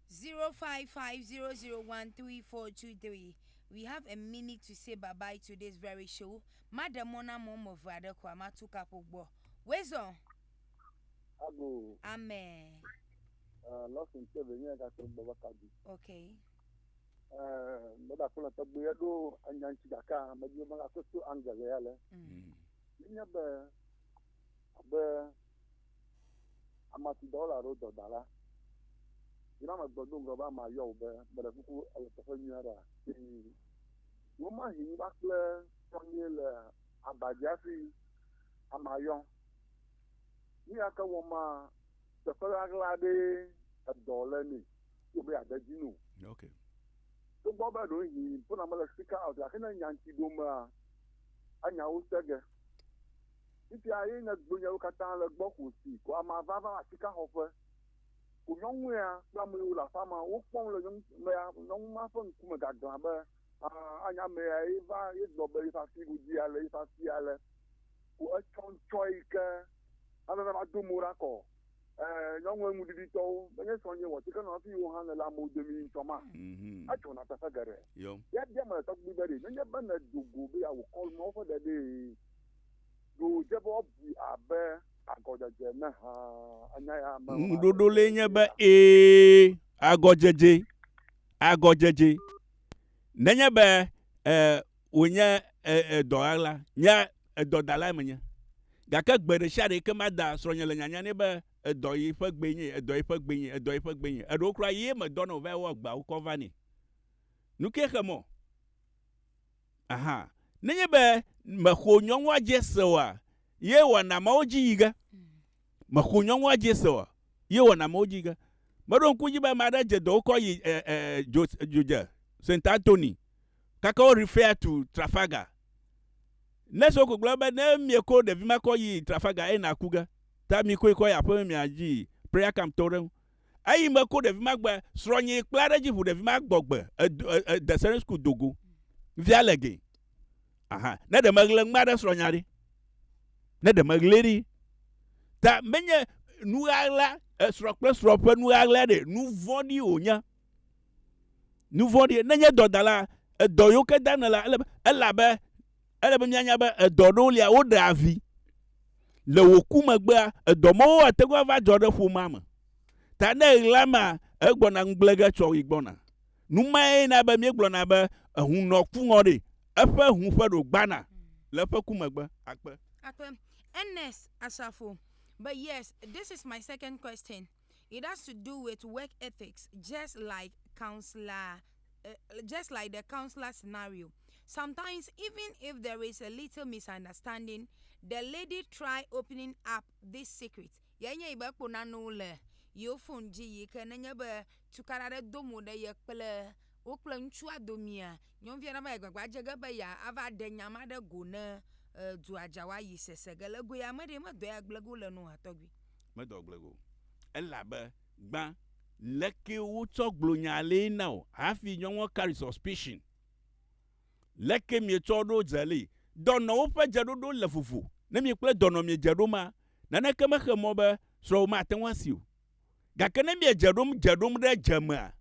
0550013423 We have a minute to say bye bye to this very show. Maɖe mɔ na ame woame eve aɖe koa matu kaƒo gbɔ. Wezɔ. Ago. Amen. Uh, Lawson tse be nye gake gbɔ va kaɖi. Okay. Uh, meda kple tɔgbe ya ɖo anya ŋuti gake medi be megakɔ to angele ya le. Mm. Nye be abe ama si dɔwɔla aɖewo dɔ da la, yi na megbe do ŋgɔ be amea yɔ wò be, meɖe kuku èle teƒe nyui aɖea? Ii, Wò ma hin va kple srɔ̃nyui le aba dzi hafi amea yɔ. Nu ya ke wɔm maa, teƒe ɣaɣla aɖee edɔ le nɛ si wòbe yeade edzi nu. Ok. Togbɔ be ɖewohĩ ƒona mele speaker out gake ne nya ŋuti ɖomea, enya wo se ge. Fifia ye nye gbonyawo katã le gbɔ xo si ko amea va va asikãxɔƒe. Ko nyɔnu ya kple ame yiwo le aƒea me wo kpɔm le nyɔnumea, nyɔnu ma ƒe ŋku me gaglã be, Aa, anye ame yae ye va ye gblɔ be yeƒe afi godie ale, yeƒe afi ale. Ko etsɔ ŋtsɔ yi ke ame va va do mo ɖa kɔ. Ẽ, nyɔnu enuɖiɖitɔwo, menye srɔ̃nye wɔ tsike nɔ hafi wò hã nèle amewo domi ŋtsɔ ma? Adzɔna teƒe geɖe. Yɔ. Yabia ame ɖetɔ kpli be ɖe menye be nedo go be yeawò kɔlu mawo ƒe ɖeɖee Ɖe wòdze be woabui abe agɔdzedze ene hã? Enya ya me. Ŋuɖoɖo lae nye be ee, agɔdzedze, agɔdzedze. Nenye be e, wònye e, e, dɔɣaɣla, nye edɔdalae menye. Gake gbe ɖe sia ɖe yi ke mada srɔ̃nye le nyanya nɛ be edɔ yi ƒe gbee nye, edɔ yi ƒe gbee nye, edɔ yi ƒe gbee nye. Eɖewo kura yee medɔna wòvae wɔ agbawo kɔ vanɛ. Nu kae xe mɔ? Aha. Nenye be mèxo nyɔnua dze se oa, ye wɔna mawo dzi yi ge. Mèxo nyɔnua dze se oa, ye wɔna mawo dzi yi ge. Meɖo ŋku edzi be ame aɖe dze dɔ wokɔ yi e, e, dzo, dzodze, Saint Anthony, kaka wo refer to Trafalgar. Nurse wo ko gblɔ be ne mieko ɖevi ma kɔ yi Trafalgar enaku ge. Ta mikoe kɔ yi aƒeme miadzi prayer camp tɔwo ɖe ŋu. eyi me ko ɖevi ma gbe srɔnyi kpla ɖe dzi ʋu ɖevi ma gbɔgbe de sɛnɛ sukuu dogo via le gɛ aha ne ɖe meɣle ŋma ɖe srɔnya ɖi ne ɖe meɣle ɖi ta menye nuɣaɣla esrɔ kple srɔ ƒe nuɣaɣla ɖe nu vɔɖi wònye nu vɔɖi nenye dɔdala edɔ yoke dana la ele elabe Ele be míanya be edɔ aɖewo lia, woɖea vi. Le wò ku megbea, edɔ mawo ate ŋu ava dzɔ ɖe ƒomea me. Ta ne eɣla mea, egbɔna ŋugble ge tsɔ yi gbɔna. Nu mae na be míegblɔna be, Ehun nɔ ku ŋɔ ɖe, eƒe hun ƒe ɖo gbana le eƒe ku megbe. Akpe. Ernest Asafo, But yes, this is my second question. it has to do with work ethics just like counsellor uh, just like the counselor scenario. Sometimes, even if there is a little misunderstanding, the lady try opening up this secret. Yɛ nye yi be kpo nanewo le yewo fon dzi yi ke nenye be tukaɖa ɖe do mo ɖe ye kple wo kple ŋutsua domea, nyɔnuvia ɖe va yi gbagba dze ge be ya ava ɖe nya ma ɖe go ne uh, dua dzawa yi sese ge le goe ame ɖee medɔ ya gblege wole no ha tɔgbi. Medo agble go. Elabe gbã leke wotsɔ gblɔ nya lee na wò hafi nyɔnua carry suspicion. Leke mietsɔ ɖo dze lee. Dɔnɔwo ƒe dzeɖoɖo le vovo. Ne mi kple dɔnɔ miedze ɖom a, naneke mexe mɔ be srɔ̃wò mate ŋu asi o. Gake ne miedze ɖom dze ɖom ɖe dze me a,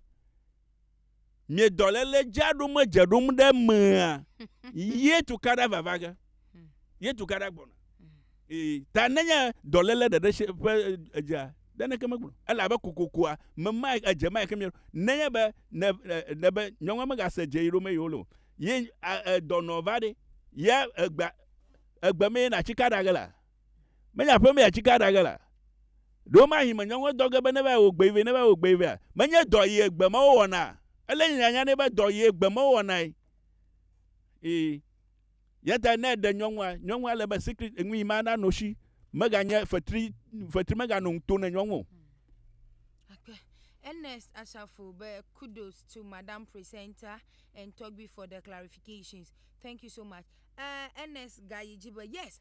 Mie dɔlele dzaɖo me dzeɖom ɖe mea ye tu kaɖa vava ge ye tu kaɖa gbɔna ee ta nenye dɔlele ɖeɖe se ƒe edzea ɖe neke megblɔ ele abe kokokoa me ma edze ma ke mi nenye be ne ne be nyɔnua me ga se dze yi ɖo me yolo ye dɔnɔ va ɖe ye egba egbe me na tsi kaɖa ge la Menye aƒemee atsike aɖa ge la, ɖe womahi me nyɔŋue dɔ ge be neva ewɔ gbee vɛ, neva ewɔ gbee vɛa? Menye dɔ yi egbe me wowɔnaa? Ele nye nyanya nɛ be dɔ yi egbe me wowɔnae. Ii. Eya ta ne eɖe nyɔŋua, nyɔŋua le be secret, enu yi ma na no shi. Meganye fetri, fetri meganɔ nu to ne nyɔŋu o. Akpe. Ernest Asafo be kudos to madam presenter and Tɔgbi for the clarifications. Thank you so much. Eh, Ernest gayi dzi be yes,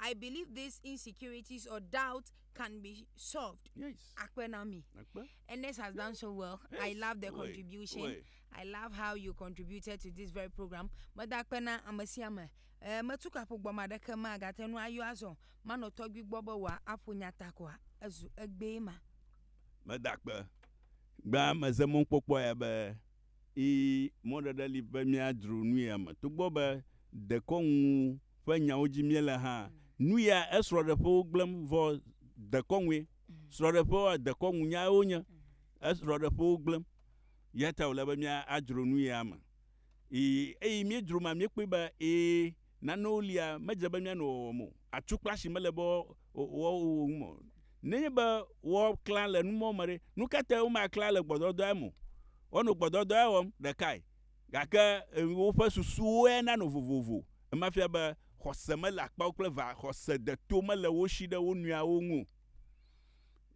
I believe these insecurities or doubts can be solved. Yes. Akpe na mi. Akpe. Ernest has done so well. Yes. I love the contribution. Oi. I love how you contributed to this very program. Meda akpe na ame sia ame. Eh, metu kaƒo gbɔ ma ɖeke ma gate nu ayɔ azɔ. Manɔ tɔgbi gbɔ be wòa aƒo nya ta koa. Ezu egbee ma. Meda akpe. Gbea meze mɔkpɔkpɔ ya be Ii, Mɔɖeɖe li be míadzro nu ya me. Togbɔ be dekɔnu ƒe nyawo dzi míele hã, nu ya esrɔ̃ɖeƒewo gblẽm vɔ dekɔnue. Srɔ̃ɖeƒewoa, dekɔnu nyae wonye. Esrɔ̃ɖeƒewo gblẽm. Eya ta wòle be míadzro nu ya me. Ii, Eyi míedzro mea, míekpɔe be, ii, Nanewo lia medze be míano wɔwɔm o. Atukpasi mele be woawo wo ŋu o. Nenye be woaklã le numɔ̃ me ɖe, nu ka tae womaklã le gbɔdɔdɔa me o? Woanɔ gbɔdɔdɔa wɔm, ɖekae, gake woƒe susuwoe nanɔ vovovo. Ema fia be xɔse mele akpawo kple va, xɔse deto mele wo si ɖe wo nɔeawo ŋu o.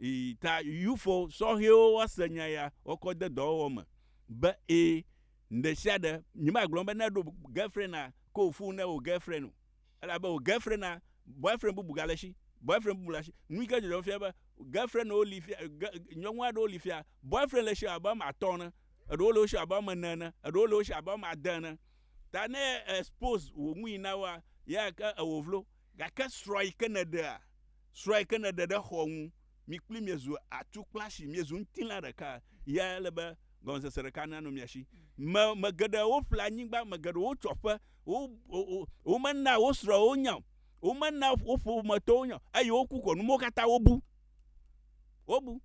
Ii, ta Yufo sɔhɛwo woase nya ya, woakɔ de dɔwɔwɔ me be, Ẽ! Ɖesiaɖe, nyemagblɔ be neɖo girlfrienda ko fu ne wò girlfriend o. Elabe wò girlfrienda, boyfriend bubu gale esi, boyfriend bubu le asi. Nuyike dzɔdzɔm fia be, girlfriendwo li fia, ge, nyɔnu aɖewo li fia, boyfriend le esi abe woame atɔ̃ ene, eɖewo le wo si abe woame ene ene, eɖewo le wo si abe woame ade ene. Ta ne expose wò nui na woa, ye ake ewò vlo. Gake srɔ̃ yike nèɖea, srɔ̃ yike nèɖe ɖe xɔ̃ ŋu, Mi kpli mia zu atukplasi, miezu ŋutilã ɖeka, ya ele be gɔmesese ɖeka nanɔ mia si. Me, me geɖe woƒle anyigba, me geɖe wotsɔ ƒe, wo, wo, womena wo srɔ̃wo nya o, womena wo ƒometɔwo nya o, eye woku ko numewo katã wobu. Wobu.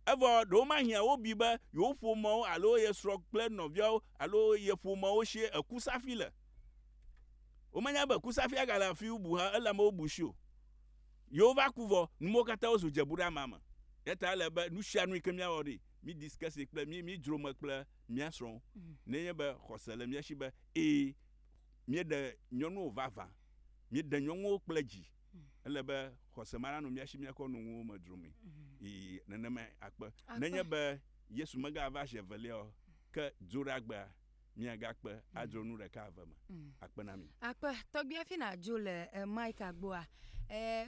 Evɔ ɖewo mahiã wobui be yewo ƒomewo alo ye srɔ̃ kple nɔviawo alo ye ƒomewo sie eku safi le. Womenya be ku safi agale afi bubu hã, ele amewo bu si o. Yehova ku vɔ, nu mawo katã wozu dzebuɖeama me. Eya ta ele be nusianu yike míawɔ ɖi, mí discuss kple mí mí dzro me kple mía srɔ̃wo. Ne enye be xɔse le mía si be ẽ míeɖe nyɔnuwo vavã, míeɖe nyɔnuwo kple dzi, ele be xɔse ma nanɔ mía si míakɔ nu nuwo me dzro mee. Yi nenemae akpe ne enye be Yesu megava zi eveliaɔ, ke dzoɖagbea. miagakpe adzro nu ɖeka eve me akpe na mi. Akpe, tɔgbi hafi nàdzo le Micah gbɔa,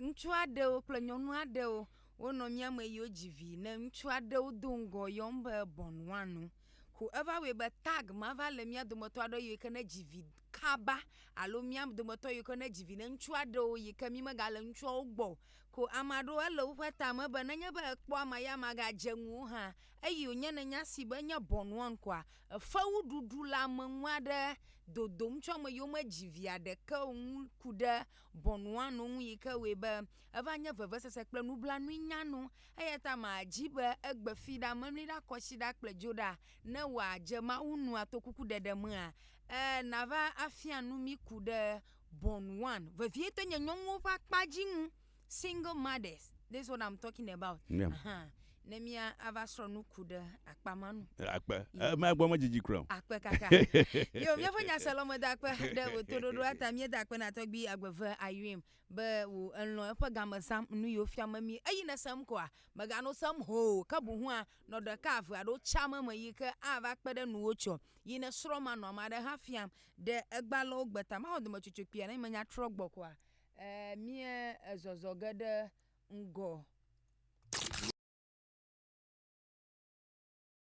ŋutsu aɖewo kple nyɔnu aɖewo wonɔ mía me yiwo dzi vi ne ŋutsu aɖewo do ŋgɔ yɔm be bɔn wanu. Ko eva wɔe be tag ma va le mía dometɔ aɖewo yiwo ke ne dzi vi kaba alo mía dometɔ yiwo ke ne dzi vi ne ŋutsu aɖewo yi ke mi megale ŋutsuawo gbɔ o. Ko ame aɖewo ele woƒe ta me be nenye be ekpɔ ama ya ma gadze ŋuwò hã eyi wònye ne nya si be nye bɔn wan koa fewuɖuɖu le ame ŋu aɖe dodom tso ame yiwo medzi vi aɖeke o ŋu ku ɖe Bonuano ŋu yi ke wɔe be eva nye vevesese kple nublanui nyanu. Eya ta madi be egbe fi ɖa, memli ɖa, kɔ asi ɖa kple dzo ɖa ne wòadze Mawu nu atokukuɖeɖe mea? Ẽ, nava afia nu mí ku ɖe Bonuano, vevietɔ nye nyɔnuwo ƒe akpa dzi ŋu. single mothers this is what i'm talking about yeah. uh -huh. ne mia ava srɔ nu ku ɖe akpa ma nu akpe ema gbɔ me dzidzi kura akpe kaka yo mia fo nya se lɔme da akpe ɖe wo to dodo ata mia da akpe na tɔgbi agbeve ayuim be wo elɔ eƒe game sam nu yo fia me mi eyi ne sam koa mega no sam ho ka bu hua no de ka ave ado cha me me yi ke ava kpe ɖe nuwo tsɔ yi ne srɔ ma no ma ɖe ha fiam de egbalɔ gbeta ma ho de me tsotso pia ne menya trɔ gbɔ koa E mie e zɔzɔ ge ɖe ŋgɔ.